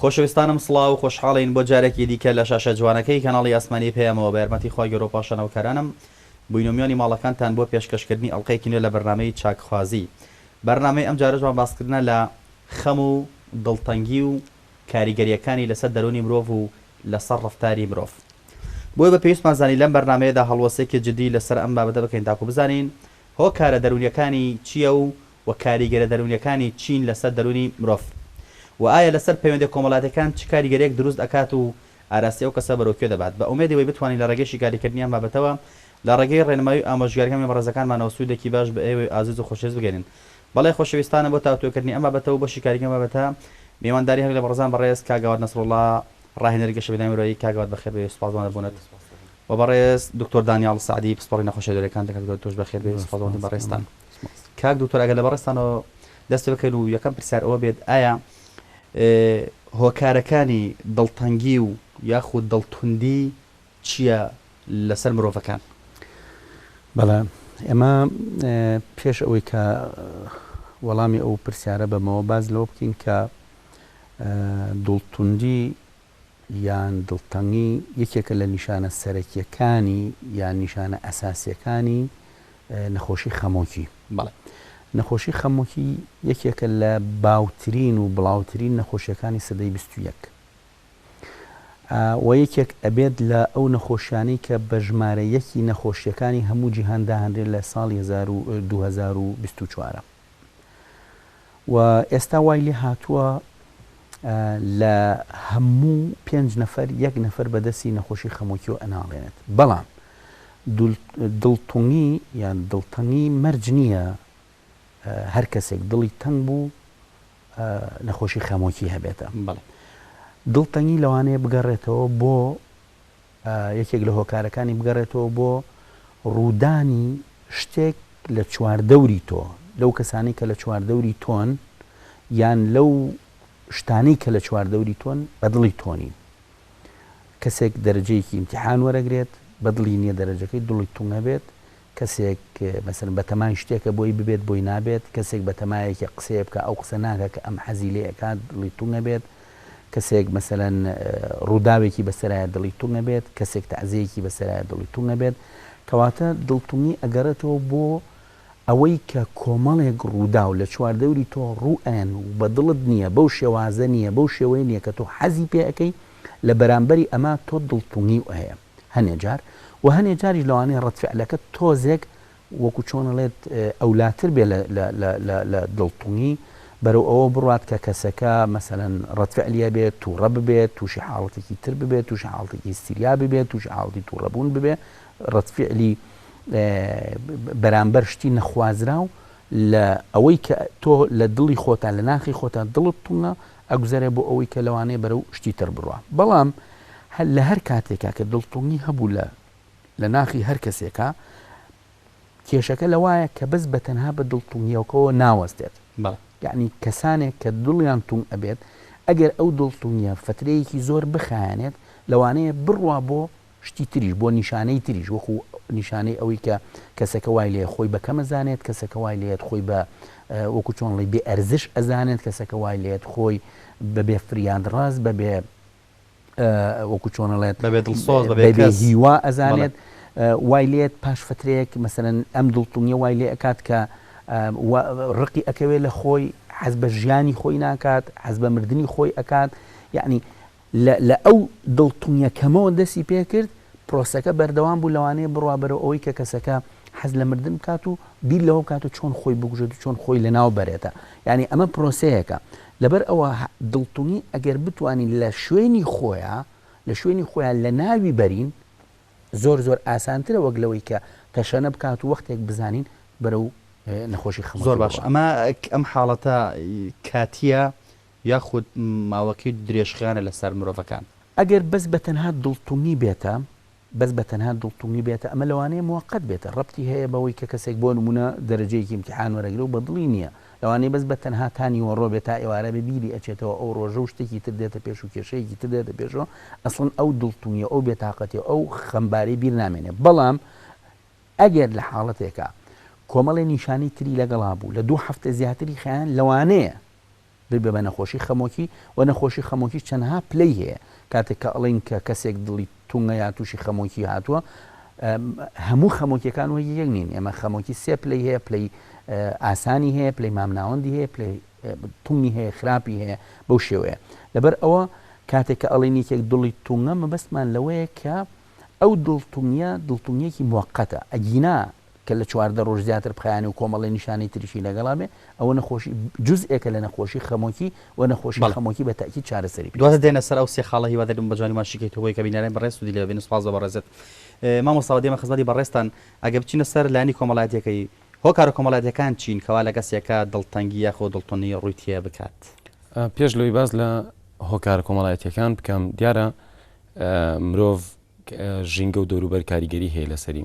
خۆشەویستانم سڵاو خۆشحاڵین بۆ جارێکی دیکە لە شاشە جوانەکەی کەناڵی ئاسمانی پەیامەوە بە یارمەتی خوای گەورە و پاشانەوکەرانم بووینە میوانی ماڵەکانتان بۆ پێشکەشکردنی ئەڵقەیەکی نوێ لە بەرنامەی چاکخوازی بەرنامەی ئەمجارەشمان باسکردنە لە خەم و دڵتەنگی و کاریگەریەکانی لەسەر دەروونی مرۆڤ و لەسەر ڕەفتاری مرۆڤ بۆیە بە پێویستمان زانی لەم بەرنامەیەدا هەڵوەستێکی جدی لەسەر ئەم بابەتە بکەین تاکو بزانین هۆکارە دەروونیەکانی چیە و و کاریگەرە دەروونیەکانی چین لەسەر دەروونی مرۆڤ و ئایا لەسەر پەیوەندیە کۆمەڵاتیەکان چ کاریگەریەک دروست ئەکات و ئاراستەی ئەو کەسە بەرەو کوێ دەبات بە ئومێدی وەی بتوانین لە ڕێگەی شیکاریکردنی ئەم بابەتەوە لە ڕێگەی ڕێنمایی و ئامۆژگاریەکانی بەڕێزەکانمانەوە سودێکی باش بە ئێوەی ئازیز و خۆشەویست بگەێنین بەڵێ خۆشەویستانە بۆ تاوتوێکردنی ئەم بابەتە و بەشی کاریگەر ئەم بابەتە میوانداری هەر لە بەڕێزان بەڕێز کاک گاواد نەسروڵڵا ڕاهێنەری گەشەپێدانی مرۆیی کاک گاواد بەخێربێی و سوپاسدوان لە بوونت و بەڕێز دکتۆر دانیاڵ سەعدی پسپۆڕی نەخۆشیە دەروونیەکان دەکات گەورە تۆش بەخێربێی و سوپاسدوانتین بەڕێزتان کاک دکتۆر ئەگەر لە بەڕێزتانەوە دەست پێبکەین و یەکەم پرسیار ئەوە بێت ئایا هۆکارەکانی دڵتەنگی و یاخود دڵتوندی چیە لەسەر مرۆڤەکان؟ بەڵێ ئێمە پێش ئەوەی کە وەڵامی ئەو پرسیارە بەمەوە باس لەوە بکەین کە دڵتوندی یان دڵتەنگی یەکێکە لە نیشانە سەرەکیەکانی یان نیشانە ئەساسیەکانی نەخۆشی خەمۆکی بەڵێ نەخۆشی خەمۆکی یەکێکە لە باوترین و بڵاوترین نەخۆشیەکانی سەدەی بیست و یەک و یەکێک ئەبێت لە ئەو نەخۆشیانەی کە بە ژمارە یەکی نەخۆشییەکانی هەموو جیهان داهەنرێت لە ساڵی هەزار و دوو هەزار و بیست و چوار و ئێستا وای لێ هاتووە لە هەموو پێنج نەفەر یەک نەفەر بەدەستی نەخۆشی خەمۆکیۆ ئەناڵێنێت بەڵام دڵتونی یان دڵتەنگی مەرج نییە هەرکەسێک دڵی تەنگ بوو نەخۆشی خەمۆکی هەبێتە دڵتەنگی لەوانەیە بگەڕێتەوە بۆ یەکێک لە هۆکارەکانی بگەڕێتەوە بۆ ڕوودانی شتێک لە چواردەوری تۆ لەو کەسانی کە لە چواردەوری تۆن یان لەو شتانی کە لە چواردەوری تۆن بەدڵی تۆنین کەسێک دەرجەیەکی امتحان وەرەگرێت بەدڵی نییە دەرەجەکەی دڵی تونگە بێت کەسێک مەسەلەن بەتەمای شتێکە بۆی ببێت بۆی نابێت، کەسێک بەتەمایەکی قسەیە بکا ئەو قسە ناکا کە ئەم حەزی لێ ئەکات دڵی تونگ ئەبێت، کەسێک مەسەلەن ڕووداوێکی بەسەرایە دڵی تونگ ئەبێت، کەسێک تەعزێیەکی بەسەرایە دڵی تونگ ئەبێت، کەواتە دڵتونگی ئەگەڕێتەوە بۆ ئەوەی کە کۆمەڵێک ڕووداو لە چواردەوری تۆ ڕوو ئەیەن و بە دڵت نییە، بەو شێوازە نییە، بەو شێوەیە نییە کە تۆ حەزی پێ ئەکەی، لە بەرامبەری ئەمە تۆ دڵتونگیو ئەیە. هەنێ جار وە هەنێ جاریش لەوانەیە ڕەد فعلەکە تۆزێک وەکو چۆن ئەڵێت ئەولاتر بێ لە دڵتونی بەرەو ئەوە بڕات کە کەسەکە مەسەەن ڕەتفعلیە بێت تووڕە ببێت تووشی حاڵەتێکی تر ببێت تووشی حاڵتێکی سیریا ببێت تووشی حاڵی تووڕەبوون ببێ ڕەتفعلی بەرامبەر شتی نەخوازرا و لە ئەوەی کە تۆ لە دڵی خۆتان لە ناخی خۆتان دڵت تونە ئەگوزەرێ بۆ ئەوەی کە لەوانەیە بەرەو شتی تر بڕوا بەڵام لە هەر کاتێکا کە دڵتەنگی هەبوو لە لە ناخی هەر کەسێکا کێشەکە لەوایە کە بەس بە تەنها بە دڵتەنگیەوەکەوە ناوەستێت بەڵێ یعنی کەسانێک کە دڵیان تونگ ئەبێت ئەگەر ئەو دڵتەنگیە فترەیەکی زۆر بخایەنێت لەوانەیە بڕوا بۆ شتی تریش، بۆ نیشانەی تریش، وەکو نیشانەی ئەوەی کە کەسەکە وای لێیە خۆی بە کەم ئەزانێت، کەسەکە وای لێیەت خۆی بە وەکو چۆن ئەڵێی بێ ئەرزش ئەزانێت، کەسەکە وای لێیەت خۆی بە بێ فریادڕەس، بە بێ وەکو چۆن ئەڵێت، بە بێ دڵسۆز، بە بێ کەس، هیوا ئەزانێت، وای لێیەت پاش فەترەیەک مەسەلەن ئەم دڵتەنگییە وای لێ ئەکات کە ڕقی ئەکەوێت لە خۆی، حەز بە ژیانی خۆی ناکات، حەز بە مردنی خۆی ئەکات، یەعنی لە ئەو دڵتونیە کەمەوە دەستی پێکرد، پرۆسەکە بەردەوام بوو لەوانەیە بڕوا بەرەو ئەوەی کە کەسەکە حەز لە مردن بکات و بیر لەوە بکات و چۆن خۆی بکوژێت و چۆن خۆی لەناو بەرێتە یانی ئەمە پرۆسەیەکە لەبەر ئەوە دڵتونی ئەگەر بتوانین لە شوێنی خۆیا لە شوێنی خۆیا لەناوی بەرین زۆر زۆر ئاسانترە وەک لەوەی کە تەشەنە بکات و وەختێک بزانین بەرەو نەخۆشی خەمۆکی زۆر باش ئەمە ئەم حاڵەتە کاتیە یاخود ماوەکەی درێژخایەنە لە سەر مرۆڤەکان. ئەگەر بەس بە تەنها دڵتنگی بێتە، بەس بە تەنها دڵتنگی بێتە، ئەمە لەوانەیە موەقەت بێتە، ڕەبتی هەیە بەوەی کە کەسێک بۆ نموونە دەرەجەیەکی ئیمتیحان وەرەگرێ و بە دڵی نییە، لەوانەیە بەس بە تەنها تا نیوەڕۆ بێ، تا ئێوارە بێ بیری ئەچێتەوە ئەو ڕۆژە و شتێکی تر دێتە پێش و کێشەیەکی تر دێتە پێشەوە، ئەسڵەن ئەو دڵتنگی و ئەو بێتاقەتی و ئەو خەمباری بیر نامێنێ، بەڵام ئەگەر لە حاڵەتێکا کۆمەڵێ نیشانەی تری لەگەڵا بوو لە دوو هەفتە زیاتری خایەن لەوانەیە، دەبێ بە نەخۆشی خەمۆکی و نەخۆشی خەمۆکیش چەندها پلەی هەیە کاتێک کە ئەڵێین کە کەسێک دڵی تونگە یا تووشی خەمۆکی هاتووە هەموو خەمۆکیەکان وەک یەک نین ئێمە خەمۆکی سێ پلەی هەیە پلەی ئاسانی هەیە پلەی مامناوەندی هەیە پلەی تونی هەیە خراپی هەیە بەو شێوەیە لەبەر ئەوە کاتێک کە ئەڵێن یەکێک دڵی تونگە مەبەستمان لەوەیە کە ئەو دڵتونیە دڵتونیەکی موقتە ئەگینا کە لە چواردە رۆژ زیاتر بخایەنێ و کۆمەڵێ نیشانەی تریشی لەگەڵا بێ، ئەوە نەخۆشی جوزئێکە لە نەخۆشی خەمۆکی و نەخۆشی بەڵێ. خەمۆکی بە تەئکید چارەسەری پێویستە. دواتر دێنە سەر ئەو سێ خاڵە هیوا دەرم بە جوانی باشی کەیتەوە بۆ یەکە بینەرانی بەڕێز سودی لێ ببینن سوپاس بۆ بەڕێزت مامۆستا وە دێمە خزمەتی بەڕێزتان ئەگەر بچینە سەر لایەنی کۆمەڵایەتیەکەی هۆکارە کۆمەڵایەتیەکان چین کەوا لە کەسێکا دڵتەنگی یاخۆ دڵتونی ڕوی تێ بکات؟ پێش لەوەی باس لە هۆکارە کۆمەڵایەتیەکان بکەم دیارە مرۆڤ ژینگە و دەوروبەر کاریگەری هەیە لەسەری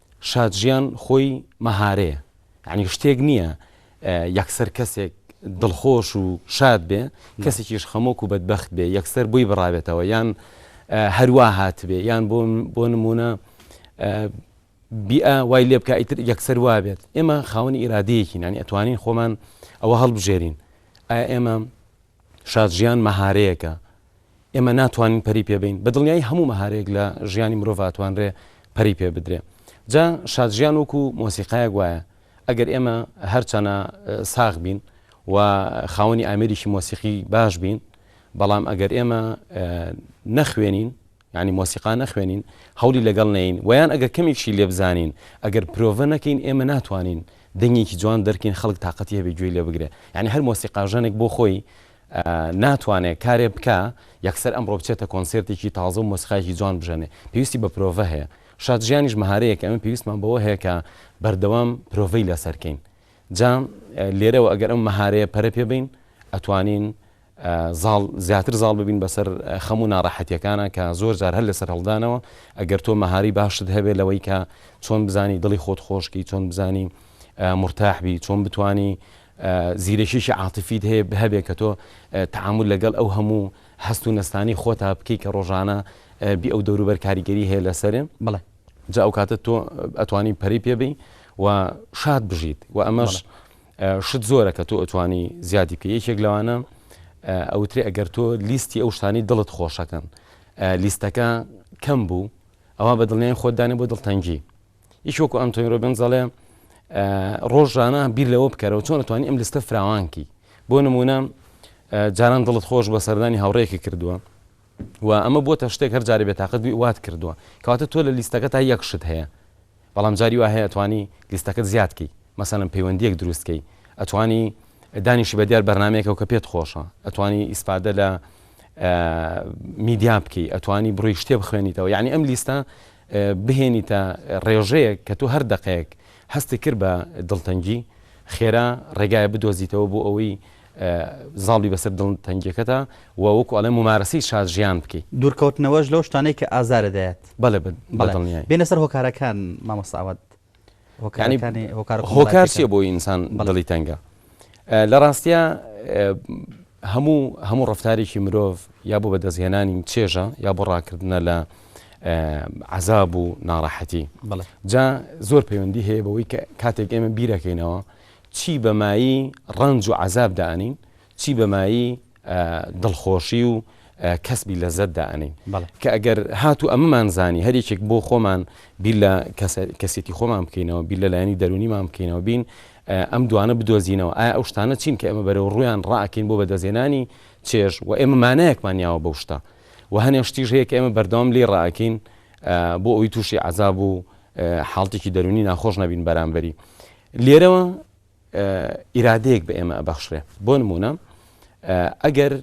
شادژیان خۆی مەهارەیە یانی شتێک نییە یەکسەر کەسێک دڵخۆش و شاد بێ کەسێکیش خەمۆک و بەدبخت بێ یەکسەر بووی بڕاوێتەوە یان هەروە هاتبێ یان بۆ بۆ نمونە بیئە وای لێ بکە ئیتر یەکسەر وابێت ئێمە خاوەنی ئیرادەیەکی نانی ئەتوانین خۆمان ئەوە هەڵبژێرین ئایا ئێمە شادژیان مەهارەیەەکە ئێمە ناتوانین پەری پێ بەین بە دڵنیایی هەموو مەهارەیەک لە ژیانی مرۆڤ ئەتوانرێ پەری پێ بدرێ جا شادژیان وەکو مۆسیقایەک وایە ئەگەر ئێمە هەرچەنە ساغ بین و خاوەنی ئامێریکی مۆسیقی باش بین بەڵام ئەگەر ئێمە نەخوێنین ینی مۆسیقا نەخوێنین هەولی لەگەڵ نین ویان ئەگەر کەمێکشی لێبزانین ئەگەر پرۆڤە نەکەین ئێمە ناتوانین دەنگێکی جوان دەرکین خەڵک تااقەتی هەبێ گوێی لێ بگرێ ینی هەر مۆسیقاژەنێک بۆ خۆی ناتوانێ کارێ بکا یەکسەر ئەمڕۆ بچێتە کۆنسێرتێکی تازە و مۆسیقایەکی جوان بژەنێ پێویستی بە پرۆڤە هەیە شاد ژیانیش مەهارەیەکە ئەمە پێویستمان بەوە هەیە کە بەردەوام پرۆڤەی لەسەر کەین جا لێرەوە ئەگەر ئەم مەهارەیە پەرە پێ بین ئەتوانین زاڵ زیاتر زاڵ ببین بەسەر خەم و ناڕەحەتیەکانە کە زۆر جار هەر لەسەر هەڵدانەوە ئەگەر تۆ مەهاری باشت هەبێ لەوەی کە چۆن بزانی دڵی خۆت خۆشکی چۆن بزانی مرتاحبی چۆن بتانی زیرەکیەکی عاتفیت هەیە هەبێ کە تۆ تەعامول لەگەڵ ئەو هەموو هەست و نەستانەی خۆتا بکەی کە ڕۆژانە بی ئەو دەوروبەر کاریگەری هەیە لەسەر. بەڵێ. جا ئەو کاتە تۆ ئەتوانی پەرەی پێ بەی و شاد بژیت و ئەمەش شت زۆرە کە تۆ ئەتوانی زیادی بکەی یەکێک لەوانە ئەوترێ ئەگەر تۆ لیستی ئەو شتانەی دڵت خۆشەکەن لیستەکە کەم بوو ئەوا بە دڵنیای خۆت دانێ بۆ دڵتەنگی. یەکی وەکو ئەنتۆنی ڕۆبنز دەڵێ ڕۆژانە بیر لەوە بکەرەوە چۆن ئەتوانی ئەم لستە فراوانکی بۆ نمونە جاران دڵت خۆش بە سەردانی هاوڕێکی کردووە و ئەمە بۆتە شتێک هەر جارێ بێتاقەت وات کردووە کەواتە تۆ لە لیستەکە تا یەک شت هەیە بەڵام جاری وا هەیە توانی لیستەکەت زیادکەی مەسەن پەیوەندیەک دروستکەی ئەتوانی دانیشی بە دیار بەرنمێکەوە کە پێت خۆشە ئەتوانی ئیسفادە لە میدیا بکەی ئەتوانی بڕی شتێ بخوێنیتەوە یعنی ئەم لیستە بهێنیتە ڕێژەیەک کە تۆ هەر دەقەیەک هەستت کرد بە دڵتەنگی، خێرا ڕێگایەک بدۆزیتەوە بۆ ئەوەی زاڵ بی بەسەر دڵتەنگیەکەتا و وەکو ئەڵێن ممارەسەی شازیان بکەی. دوورکەوتنەوەش لەو شتانەی کە ئازارت دەیات. بەڵێ بەدڵنیایی. بێنە سەر هۆکارەکان مامۆستا ئاوات. هۆکارسیە بۆ ئینسان بەڵی تەنگە لە ڕاستە هەموو هەموو ڕفتارێکی مرۆڤ یا بۆ بەدەستهێنانی چێژە یا بۆ ڕاکردنە لە عذاب و ناڕەحەتی جا زۆر پەیوەندی هەیە بەوەی کە کاتێک ئێمە بیرەکەینەوە چی بەمایی ڕنج و عذاب دانین چی بەمایی دڵخۆشی و کەسبی لەزەت دائەنین کە ئەگەر هاتو ئەمەمان زانی هەریکێک بۆ خۆمان بیر لە کەسێتی خۆمان بکەینەوە بیر لە لایەنی دەرونیمان بکەینەوە بین ئەم دوانە بدۆزینەوە ئایا ئەو شتانە چین کە ئەمە بەرەو ڕویان ڕاکەین بۆ بەدەزێنانی چێژ و ئێمە مانایەکمان یاوە بەو شتە و هەنێ شتیش هەیە کە ئێمە بەردەوام لێ ڕاکەین بۆ ئەوی تووشی عذاب و حاڵتێکی دەرونی ناخۆش نەبین بەرامبەری لێرەوە ئیرادەیەک بە ئێمە ئەبەخشرێ بۆ نموونە ئەگەر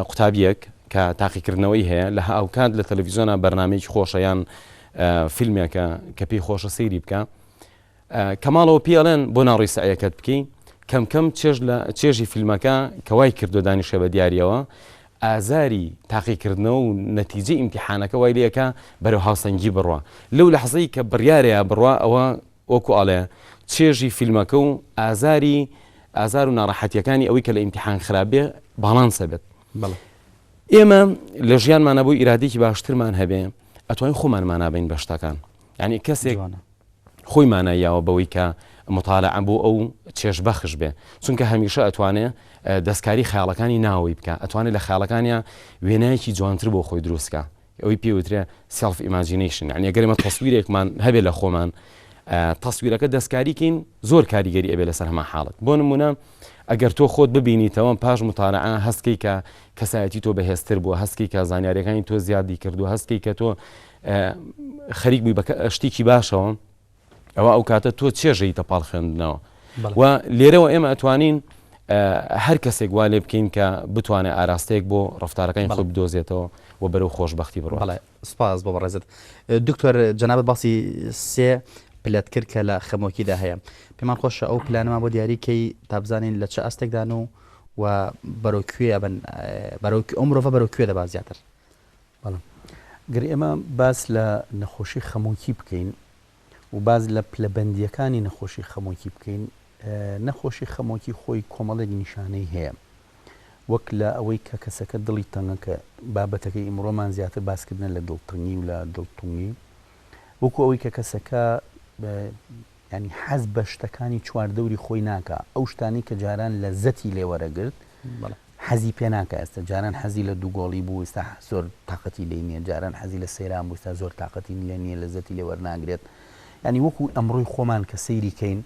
قوتابیەک کە تاقیکردنەوەی هەیە لە هاوکات لە تەلەڤیزۆنا بەرنمەیەکی خۆشە یان فیلمێکە کە پێی خۆشە سەیری بکە کەماڵەوە پیاڵێن بۆ ناڕی سعەکەت بکەین کەمکەم چێژ لە چێژی فیلمەکە کەوای کردو دانیشە بە دیارەوە ئازاری تاقیکردنەوە و نەتیجە ئیمتحانەکە وای لەکە بەرەو هاوسەنگی بڕە لەو لە حەزەی کە بڕارەیە بڕە ئەوە وەکو ئەڵێ چێژی فیلمەکە و ئازاری ئازار و ناڕەحەتیەکانی ئەوەی کە لە ئیمتیحان خراپ بێ باڵانس هەبێت بەڵێ ئێمە لە ژیانمانە بۆ ئیرادێکی باشترمان هەبێ ئەتوانین خۆمان مانابین بە شتەکان یعنی کەسێک جوانە خۆی ماناییاوە بەوەی کە مطالع بۆ ئەو چێش بەخش بێ چونکە هەمیشە ئەتوانێ اه، دەستکاری خیاڵەکانی ناوەی بکە ئەتوانێت لە خیاڵەکانیان وێنایەکی جوانتر بۆ خۆی دروستکە ئەوەی پێ وترێ سێڵف ئیماجینەیشن یانی ئەگەر ئێمە تەسویرێکمان هەبێ لە خۆمان تەسویرەکە دەستکاریکەین زۆر کاریگەری ئەبێ لەسەر هەما حاڵت بۆ نمونە ئەگەر تۆ خۆت ببینیتەوەم پاش متارەعە هەستکەی کە کەسایەتی تۆ بەهێزتر بووە هەستکی کە زانیارەکانی تۆ زیادی کردو هەستکی کە تۆ خەریک بووی بە شتێکی باشەوە ئەوا ئەو کاتە تۆ چێژەیتە پاڵ خوێندنەوە و لێرەوە ئێمە ئەتوانین هەر کەسێک وا لێ بکەین کە بتوانێت ئاراستەیەک بۆ ڕفتارەکانی خۆ بدۆزێتەوە و بەرەو خۆشببختی بڕڵێ سپاس بۆ بەڕێزت دکتۆر جەنابەت باسی سێ پلت کرد کە لە خەمۆکیدا هەیە پێمان خۆشە ئەو پلانەمان بۆ دیاریکەی تابزانین لە چ ئاستێکدان و و بەرەو کوێ بن بەرەو ئەو مرۆڤ بەرەو کوێ دەبات زیاتر بەڵام گەر ئێمە باس لە نەخۆشی خەمۆکی بکەین و باز لە پلەبندیەکانی نەخۆشی خەمۆکی بکەین نەخۆشی خەمۆکی خۆی کۆمەڵێک نیشانەی هەیە وەک لە ئەوەی کە کەسەکە دڵی تەنگە کە بابەتەکەی ئیمڕۆمان زیاتر باسکردن لە دڵتنگی و لە دڵتونگی وەکو ئەوەی کە کەسەکە یانی حەز بە شتەکانی چوار دەوری خۆی ناکا، ئەو شتانەی کە جاران لەزەتی لێ وەرەگرت حەزی پێ ناکا، ئێستا جاران حەزی لە دوو گۆڵی بوو ئێستا زۆر تاقەتی لێی نییە، جاران حەزی لە سەیران بوو ئێستا زۆر تاقەتی لێ نییە لەزەتی لێ وەرناگرێت، یانی وەکو ئەمڕۆی خۆمان کە سەیری کەین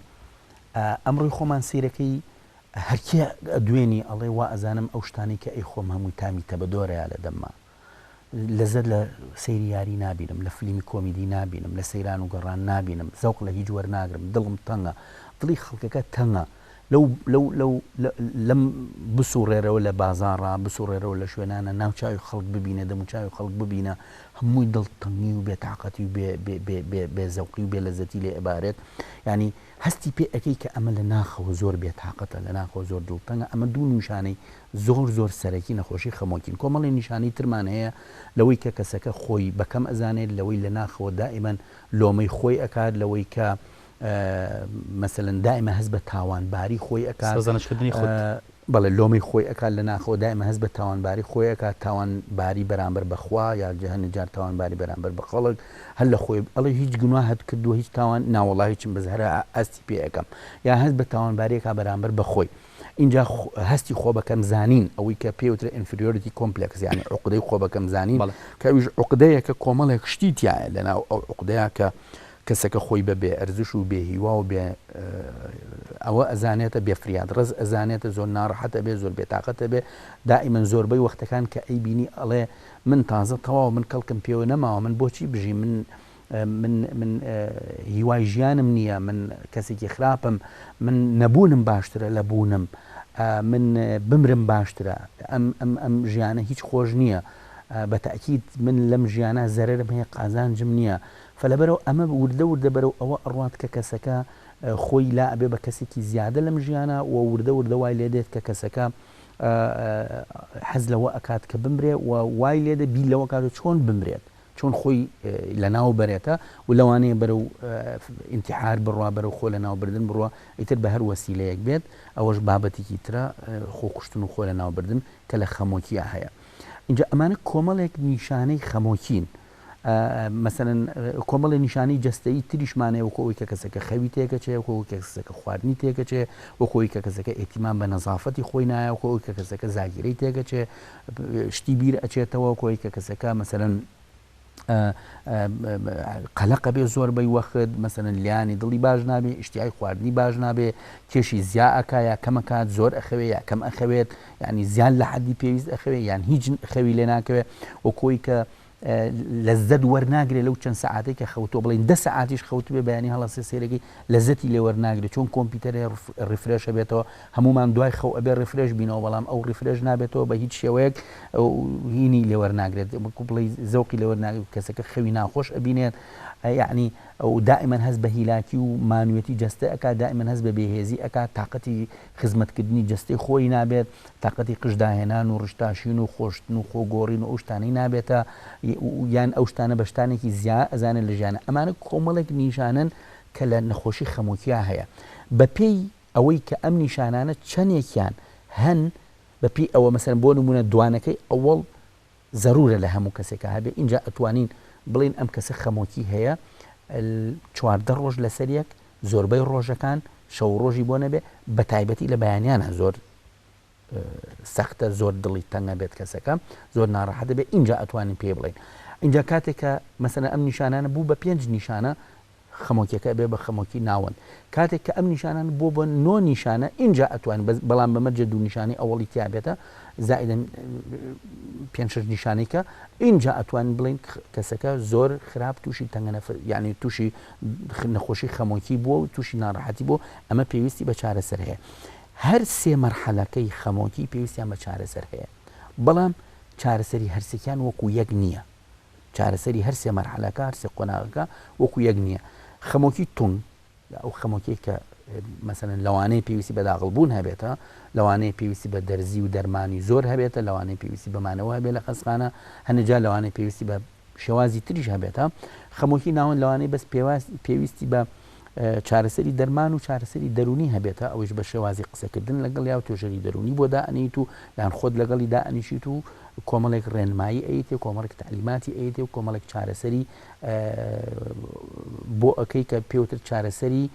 ئەمڕۆی خۆمان سەیرەکەی هەرکێ دوێنی ئەڵێ وا ئەزانم ئەو شتانەی کە ئەیخۆم هەمووی تامی تەبەدۆرەیە لە دەمما. لەزەت لە سەیری یاری نابینم، لە فلیمی کۆمیدی نابینم، لە سەیران و گەڕان نابینم، زەوق لە هیچ وەرناگرم، دڵم تەنگە، دڵی خەڵکەکە تەنگە، لەو لەو لەو لەم بسوڕێرەوە لە بازاڕا، بسوڕێرەوە لە شوێنانە، ناو چاوی خەڵک ببینە، دەمو چاوی خەڵک ببینە، هەمووی دڵتەنگی و بێتاقەتی و بێ بێ بێ بێ بێ زەوقی و بێ لەزەتی لێ ئەبارێت، یانی. هەستی پێ ئەکەی کە ئەمە لە ناخەوە زۆر بێ تاقەتە، لە ناخەوە زۆر دڵتەنگە، ئەمە دوو نیشانەی زۆر زۆر سەرەکی نەخۆشی خەمۆکین، کۆمەڵی نیشانەی ترمان هەیە لەوەی کە کەسەکە خۆی بە کەم ئەزانێت، لەوەی لە ناخەوە دائیما لۆمەی خۆی ئەکات، لەوەی کە مەسەلەن دائیما هەست بە تاوانباری خۆی ئەکات، سەرزەنشتکردنی خود. بەڵێ لۆمەی خۆی ئەکات لە ناخەوە دایمە هەست بە تاوانباری خۆی ئەکات تاوان باری بەرامبەر بە خوا یاخجە هەنێ جار تاوان باری بەرامبەر بە خەڵک هەر لە خۆی ئەڵێ هیچ گوناهت کردوە هیچ تاوان ناوەڵا هیچم بەس هەرا هەستی پێ ئەکەم یا هەست بە تاوانباریەکە بەرامبەر بە خۆی اینجا هەستی خۆ بەکەم زانین ئەوەی کە پێوترە ئینفریۆریتی کۆمپلکس یعنی عقدەی خۆ بەکەم زانین کەویش عقدەیەکە کۆمەڵێک شتی تایە لەناو ئەو عقدەیە کە کەسەکە خۆی بە بێ ئەرزش و بێ هیوا و بێ ئەوە ئەزانێتە، بێ فریاد ڕەس ئەزانێتە، زۆر ناڕەحەت ئەبێ، زۆر بێ تاقەت ئەبێ، دائیمەن زۆربەی وەختەکان کە ئەیبینی ئەڵێ، من تازە تەواو، من کەڵکم پێوە نەماوە، من بۆچی بژیم، من من من هیوای ژیانم نییە، من کەسێکی خراپم، من نەبوونم باشترە لە بوونم، من بمرم باشترە، ئەم ئەم ئەم ژیانە هیچ خۆش نییە، بە تەئکید من لەم ژیانە زەرەرم هەیە قازانجم نییە، فە لەبەرئەوە ئەمە وردە وردە بەرەو ئەوە ئەڕوات کە کەسەکە خۆی لا ئەبێ بە کەسێکی زیادە لەم ژیانە و وردە وردە وای لێ دێت کە کەسەکە حەز لەوە ئەکات کە بمرێ و وای لێ دێ بیر لەوە کاتە چۆن بمرێت چۆن خۆی لە ناو بەرێتە و لەوانەیە بەرەو ئینتیحار بڕوا بەرەو خۆ لە ناو بردن بڕوا ئیتر بە هەر وەسیلەیەک بێت ئەوەش بابەتێکی ترە خۆ کوشتن و خۆ لە ناو بردن کە لە خەمۆکیە هەیە ئینجا ئەمانە کۆمەڵێک نیشانەی خەمۆکین مەسەلەن کۆمەڵێ نیشانەی جەستەیی تریشمان هەیە وەکوو ئەوەی کە کەسەکە خەوی تێکەچێ، وەکوو ئەوەی کە کەسەکە خواردنی تێکەچێ، وەکوو ئەوەی کە کەسەکە ئیهتیمام بە نەزافەتی خۆی نایە، وەکوو ئەوەی کە کەسەکە زاگیرەی تێکەچێ، شتی بیر ئەچێتەوە، وەکوو ئەوەی کە کەسەکە مەسەلەن قەلەق ئەبێ زۆربەی وەخت، مەسەلەن لێیانی دڵی باش نابێ، ئیشتیهای خواردنی باش نابێ، کێشی زیا ئەکا یا کەم ئەکات، زۆر ئەخەوێ یا کەم ئەخەوێت، یانی زیاد لە حەدی پێویست ئەخەوێ یان هیچ خەوی لێ ناکەوێ، وەکوو ئەوەی کە لەزەت وەرناگرێ لەو چەند سەعاتەی کە خەوتۆ بڵین دە سەعاتیش خەوتبێ بەیانی هەڵەسێ سێرەکەی لەزەتی لێ وەرناگرێت چۆن کۆمپیوتەرێ ڕفرێشە بێتەوە هەمومان دوای خەو ئەبێ ڕفرێش بینەوە بەڵام ئەو ڕفرێش نابێتەوە بە هیچ شێوەیەک هینی لێ وەرناگرێت بکو بڵی زەوقی لێ وەرناگرێت کەسەکە خەوی ناخۆش ئەبینێت یعنی ئەو دائمەن هەست بە هیلاکی و مانوێتی جەستە ئەک دائمەن هەست بە بێهێزی ئەک تااقەتی خزمەتکردنی جەستەی خۆی نابێت، تاقەتی قژ داهێنان و ڕشتاشین و خۆشتن و خۆ گۆڕین و ئەو شتانەی نابێتە یان ئەو شتانە بە شتانێکی زیا ئەزانێت لە ژیانە ئەمانە کۆمەڵێک نیشانەن کە لە نەخۆشی خەمۆکیا هەیە بە پێی ئەوەی کە ئەم نیشانانە چەندێکیان هەن بە پێی ئەوە مەسەن بۆ نمونە دوانەکەی ئەوەڵ زەرورە لە هەموو کەسێکا هەبێ ئینجا ئەتوانین بڵێین ئەم کەسە خەمۆکی هەیە چواردە ڕۆژ لەسەر یەک زۆربەی ڕۆژەکان شەو ڕۆژی بۆ نەبێ بە تایبەتی لە بەیانیانە زۆر سەختە زۆر دڵی تەنگە بێت کەسەکە زۆر ناڕەحە دەبێت اینجا ئەتوانین پێ بڵین اینجا کاتێکە مەسەنە ئەم نیشانانە بوو بە پێنج نیشانە خەمۆکیەکە ئەبێ بە خەمۆکی ناوەند کاتێک کە ئەم نیشانانە بۆ بە نۆ نیشانە ئینجا ئەتوانین بەس بەڵام بە مەرجێ دوو نیشانەی ئەوەڵی تیابێتە زائدەن پێنج شش نیشانەی کە ئینجا ئەتوانین بڵین کەسەکە زۆر خراپ تووشی تەنگە نەفر یعنی تووشی نەخۆشی خەمۆکی بووە و تووشی ناڕحەتی بۆ ئەمە پێویستی بە چارەسەر هەیە هەر سێ مەرحەلەکەی خەمۆکی پێویستیان بە چارەسەر هەیە بەڵام چارەسەری هەرسێکیان وەکو یەک نییە چارەسەری هەر سێ مەرحەلەکە هەر سێ قۆناغەکە وەکو یەک نییە خەمۆکی تون ئەو خەمۆکی کە مەسەن لەوانەیە پێویستی بە داغڵبوون هەبێتە لەوانەیە پێویستی بە دەرزی و دەرمانی زۆر هەبێتە لەوانەیە پێویستی بەمانەوە هەبێت لە خەسخانە هەنجا لەوانەیە پێویستی بە شێوازی تریش هەبێتە خەمۆکی ناوەند لەوانەیە بەس پێویستی بە چارەسەری دەرمان و چارەسەری دەروونی هەبێتە ئەوش بە شێوازی قسەکردن لەگەڵ یا و توێژەری دەروونی بۆ دائەنیت و یان خۆت لەگەڵی دائەنیشیت و کۆمەڵێک ڕێنمایی ئەیتێ کۆمەڵێک تعلیماتی ئەیتێ و کۆمەڵێک چارەسەری بۆ ئەەکەی کە پێوتر چارەسەری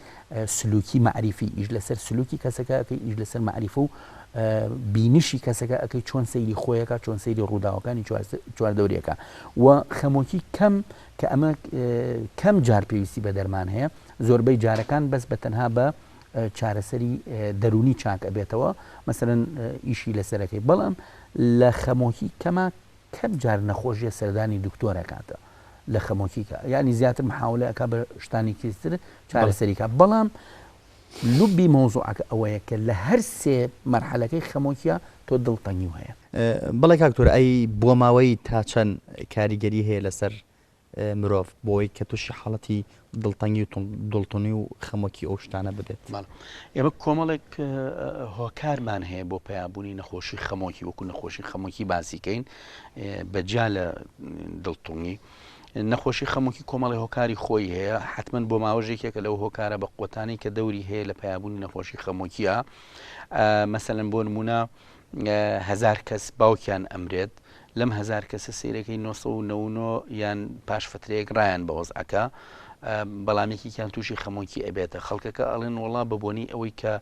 سلوکی معریفی ئیش لەسەر سلوکی کەسەکە ئەەکەی ئیش لەسەر معریف و بینیشی کەسەکە ئەەکەی چۆن سەیری خۆیەکە چۆن سەیری ڕووداوەکانی چواردەورەکە و خەمۆکی کەم کە ئەمە کەم جار پێویستی بە دەرمان هەیە، زۆربەی جارەکان بەس بە تەنها بە چارەسەری دەروونی چاک ئەبێتەوە، مەسەلەن ئیشی لەسەر ئەکەی، بەڵام لە خەمۆکی کەما کەم جار نەخۆشیە سەردانی دکتۆر ئەکاتە. لە خەمۆکیکە یعنی زیاتر محاولە ئەک بە شتانی کیستر چارەسەریکە بەڵام لبی مەوزوعەکە ئەوەیە کە لە هەر سێ مەرحەلەکەی خەمۆکیە تۆ دڵتەنگی هەیە بەڵێ کاک تۆر ئەی بۆماوەیی تا چەند کاریگەری هەیە لەسەر مرۆڤ بۆی کە تووشی حاڵەتی دڵتەنگی و دڵتونی و خەمۆکی ئەو شتانە ببێت ئێمە کۆمەڵێک هۆکارمان هەیە بۆ پیابوونی نەخۆشی خەمۆکی وەکو نەخۆشی خەمۆکی باسیکەین بەجیا لە دڵتونی نەخۆشی خەموکی کۆمەڵی هۆکاری خۆی هەیە حتمما بۆ ماوەژێکێکە لەو هۆکارە بە قوتانی کە دەوری هەیە لە پیابوونی نەخۆشی خەمۆکیە مەسەن بۆ نمونە هەزار کەس باوکیان ئەمرێت، لەم هەزار کەسە سەیرەکەی نۆ سەد و نەوە و نۆ یان پاش فترەیەک ڕایان بە وەزعەکە بەڵام یەکێکیان تووشی خەمۆکی ئەبێتە خەڵکەکە ئەڵێن وڵا بە بۆنی ئەوەی کە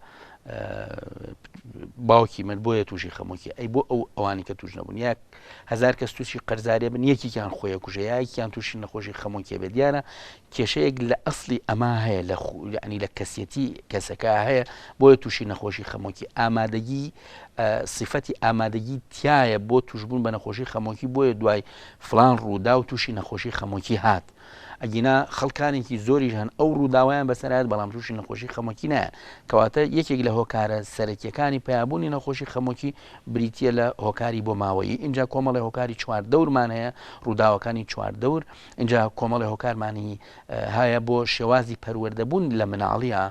باوکی من بۆیە تووشی خەمۆکی ئەی بۆ ئەو ئەوانی کە توش نەبوون یاک هزار کەس تووشی قەرزارێ بن یەکیان خۆیە کوژەیەکیان تووشی نەخۆشی خەمۆکیێ بێ دیارە کێشەیەک لە ئەسڵی ئەما هەیە لە خو یعنی لە کەسیەتی کەسەکە هەیە بۆیە تووشی نەخۆشی خەمۆکی ئامادەگی سیفەتی ئامادەگی تایە بۆ توشببوون بە نەخۆشی خەمۆکی بۆیە دوای فلان ڕوودا و تووشی نەخۆشی خەمۆکی هات ئەگینا خەڵکانێکی زۆریش هەن ئەو ڕووداوایان بەسەرات بەڵام تووشی نەخۆشی خەمۆکی نایە کەواتە یەکێک لە هۆکارە سەرەکیەکانی پیابوونی نەخۆشی خەمۆکی بریتە لە هۆکاری بۆ ماوەیی اینجا کۆمەڵی هۆکاری چوار دەورمان هەیە ڕووداوەکانی چوار دەور ئینجا کۆمەڵێ هۆکارمانی هەیە بۆ شێوازی پەروەردەبوون لە مناڵییە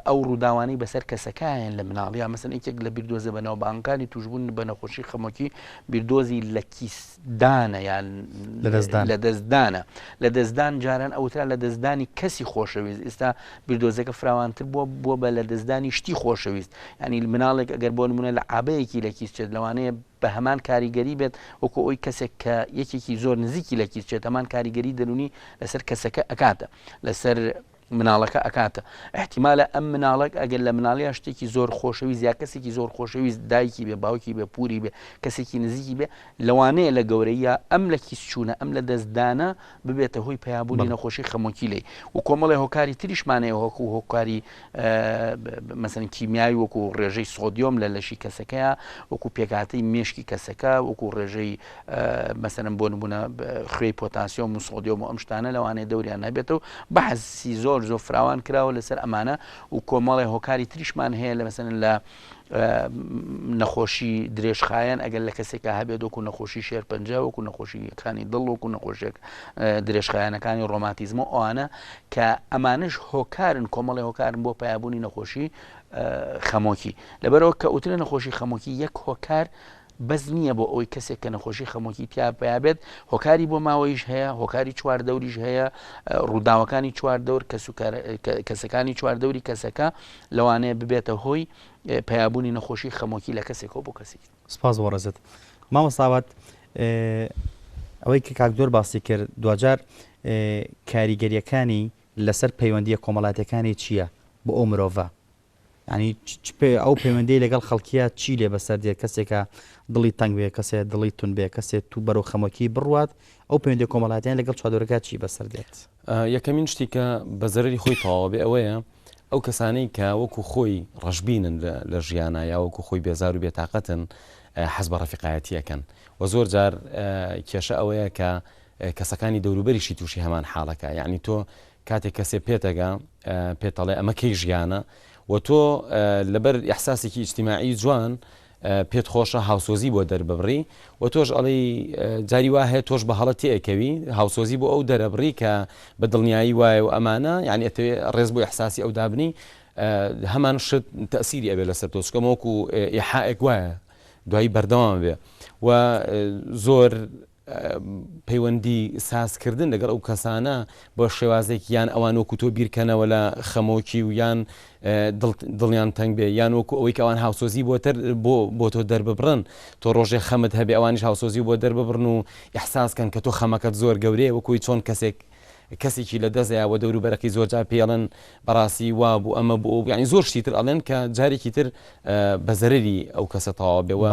ئەو ڕووداوانەی بەسەر کەسەکایەن لە مناڵیە مەسن یەکێک لە بیردۆزە بەناوبانگەکانی توشبوون بە نەخۆشی خەمۆکی بیردۆزی لە کیسدانە یان لە دەستدان لە دەستدانە لە دەستدان جاران ئەوترا لە دەستدانی کەسی خۆشەویست ئێستا بیردۆزەکە فراوانتر بووە بووە بە لە دەستدانی شتی خۆشەویست ینی مناڵێک ئەگەر بۆ نمونە لە عابەیەکی لە کیسچێت لەوانەیە بە هەمان کاریگەری بێت وەکو ئەوەی کەسێک کە یەکێکی زۆر نزیکی لە کیس چێت هەمان کاریگەری دەروونی لەسەر کەسەکە ئەکاتە لەسەر مناڵەکە ئەکاتە احتیمالە ئەم مناڵک ئەگەر لە مناڵیا شتێکی زۆر خۆشەوی زیا کەسێکی زۆر خۆشەویست دایکی بێ باوکی بێ پوری بێ کەسێکی نزیکی بێ لەوانەیە لە گەورەیە ئەم لە کیس چوونە ئەم لە دەستدانە ببێتە هۆی پەیابوونی نەخۆشی خەمۆکی لێی و کۆمەڵی هۆکاری تریشمانەیە هۆک و هۆکاری مەسن کیمیایی وەکو ڕێژەی سۆدیۆم لە لەشی کەسەکەیە وەکو پێکاتی مشکی کەسەکە وەکو ڕێژەی مەسەن بۆ نمونە خوێی پۆتاسیۆم و سۆدیۆم و ئەم شتانە لەوانەیە دەوریان هەبێت و بەحسی زۆر زۆر فراوان کراوە لەسەر ئەمانە و کۆمەڵی هۆکاری تریشمان هەیە لە مەسەن لە نەخۆشی درێژخایەن ئەگەر لە کەسێکا هەبێت وەکو نەخۆشی شێرپەنجە وەکو نەخۆشیەکانی دڵ وەکو نەخۆشێک درێژخایەنەکانی ڕۆماتیزمە ئەوانە کە ئەمانش هۆکارن کۆمەڵی هۆکارن بۆ پیاببوونی نەخۆشی خەمۆکی لەبەرەوە کە ئوترە نەخۆشی خەمۆکی یەک هۆکار بەس نییە بۆ ئەوەی کەسێک کە نەخۆشی خەمۆکی تیا پیا بێت هۆکاری بۆ ماوەیش هەیە هۆکاری چوار دەوریش هەیە ڕووداوەکانی چوار دەور کەس و کەسەکانی چوار دەوری کەسەکە لەوانەیە ببێتە هۆی پیابوونی نەخۆشی خەمۆکی لە کەسێکەوە بۆ کەسی سپاس بۆ ڕێزت مامەساوات ئەوەی کە کاکدۆر باسی کرد دوجار کاریگەریەکانی لەسەر پەیوەندیە کۆمەڵاتەکانی چییە بۆ ئەو مرۆڤە یانی چ پێ ئەو پەیوەندی لەگەڵ خەڵکیە چی لێ بەسەر دێت کەسێکە دڵی تەنگ بێ کەسێ دڵی تون بێ کەسێت تو بەرەو خەمۆکی بڕوات ئەو پەیوەندی کۆمەڵاتیان لەگەڵ چادۆرەکە چی بەسەر دێت یەکەمین شتی کە بە زەرری خۆی تەواوە بێ ئەوەیە ئەو کەسانەی کە وەکو خۆی ڕژبینن لە ژیانە یا وەکو خۆی بێزار و بێتاقەتن حەز بە ڕفیقایەتیەکەن و زۆر جار کێشە ئەوەیە کە کەسەکانی دەوروبەریشی تووشی هەمان حاڵەکە یعنی تۆ کاتێک کەسێ پێتەگا پێتەڵێ ئەمە کەی ژیانە و تۆ لەبەر ئەحساسێکی ئیجتیماعی جوان پێت خۆشە هاوسۆزی بۆ دەرببڕی و تۆش ئەڵی جاری وا هەیە تۆش بە هەڵە تێکەوی هاوسۆزی بۆ ئەو دەرەبڕی کە بە دڵنیایی وایە و ئەمانە یعنی ئەتەوێ ڕێز بۆ ئەحساسی ئەو دابنی هەمان شت تەسیری ئەوێ لەسەر تۆچکەمەوەکو ئێحائێک وایە دوایی بەردەوام بێ و زۆر پەیوەندی ساز کردن لەگەڵ ئەو کەسانە بە شێوازێک یان ئەوان وەکو تۆ بیرکەنەوە لە خەمۆکی و یان دڵیان تەنگ بێ یان وەکو ئەوەی کە ئەوان هاوسۆزی بۆتر بۆ بۆ تۆ دەرببڕن تۆ ڕۆژێ خەمت هەبێ ئەوانیش هاوسۆزی بۆ دەرببڕن و ئەحساسکەن کە تۆ خەمەکەت زۆر گەورەیە وەکوی چۆن کەسێک کەسێکی لە دەزەیە بە دەور و بەرەکەی زۆر جار پێڵن بەڕاستی وا بوو ئەمە بۆ ئەو بیانی زۆر شتیتر ئەڵێن کە جارێکی تر بە زەرری ئەو کەسە تەواو بێەوە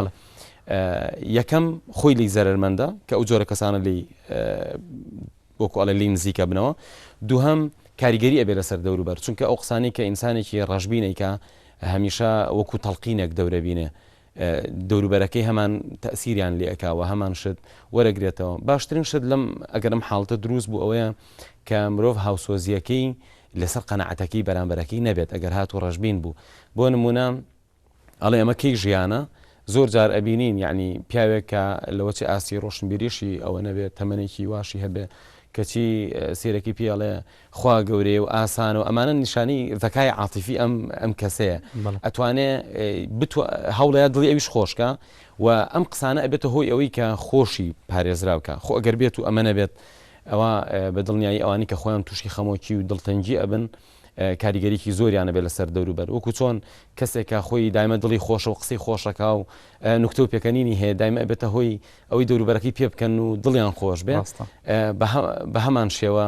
یەکەم خۆی لی زەرمەندە کە ئەو جۆرە کەسانە لی وەکو ئەڵێ لی نزیکە بنەوە دووهم کاریگەری ئەبێ لەسەر دەوروبەر چونکە ئەو قسانی کە ئینسانێکی ڕژبینێکە هەمیشە وەکو تەلقینێک دەورەبینێ دەوروبەرەکەی هەمان تەسیریان لێکاوە هەمان شت وەرەگرێتەوە باشترین شت لەم ئەگەرم حاڵتە دروست بوو ئەوەیە کە مرۆڤ هاوسۆزیەکەی لەسەر قەنەعەتەکەی بەرامبەرەکەی نەبێت ئەگەر هات و ڕژبین بوو بۆ نمونە ئەڵێ ئەمە کەی ژیانە؟ زۆر جار ئەبینین یەعنی پیاوێک کە لەوەچێ ئاستی ڕۆشنبیریشی ئەوە نەبێت تەمەنێکی واشی هەبێ کەچی سیرەکی پێڵێ خوا گەورەیە و ئاسان و ئەمانە نیشانی زەکای عاتیفی ئەم ئەم کەسەیە ئەتوانێ هەوڵەیە دڵی ئەویش خۆشکە و ئەم قسانە ئەبێتە هۆی ئەوەی کە خۆشی پارێزراوکە خۆ ئەگەر بێت و ئەمە نەبێت ئەوە بە دڵنیایی ئەوانی کە خۆیان تووشی خەمۆکی و دڵتەنگی ئەبن و کاریگەریی زۆریان ئەبێت لەسەر دەوروبەر وەکو چۆن کەسێک کە خۆی دایمە دڵی خۆشە و قسەی خۆش ئەکا و نوکتە و پێکەنینی هەیە دایمە ئەبێتە هۆی ئەوەی دەوروبەرەکەی پێ بکەن و دڵیان خۆش بێ ڕاستە بە هەمان شێوە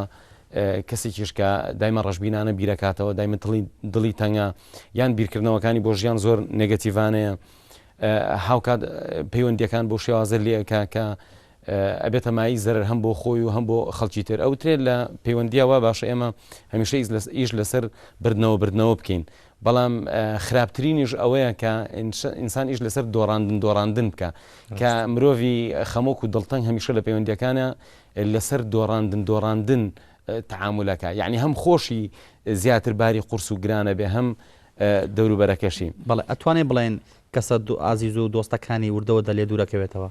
کەسێکیش کە دایمە ڕەشبینانە بیرەکاتەوە دایمە دڵی دڵی تەنگە یان بیرکردنەوەکانی بۆ ژیان زۆر نگەتیڤانەیە هاوکات پەیوەندیەکان بۆ شێوازە لێکە کە ئەبێتە مایەی زەرەر هەم بۆ خۆی و هەم بۆ خەڵکی تر. ئەوترێت لە پەیوەندییە وا باشە ئێمە هەمیشە ئیش لەسەر بردنەوە بردنەوە بکەین، بەڵام خراپترینیش ئەوەیە کە ئینسان ئیش لەسەر دۆڕاندن دۆڕاندن بکا، کە مرۆڤی خەمۆک و دڵتەنگ هەمیشە لە پەیوەندییەکانە لەسەر دۆڕاندن دۆڕاندن تەعامول ئەکا، یەعنی هەم خۆشی زیاتر باری قورس و گران ئەبێ هەم دەوروبەرەکەشی. بەڵێ ئەتوانین بڵێین کەسە ئازیز و دۆستەکانی وردەوردە لێ دوورەکەوێتەوە.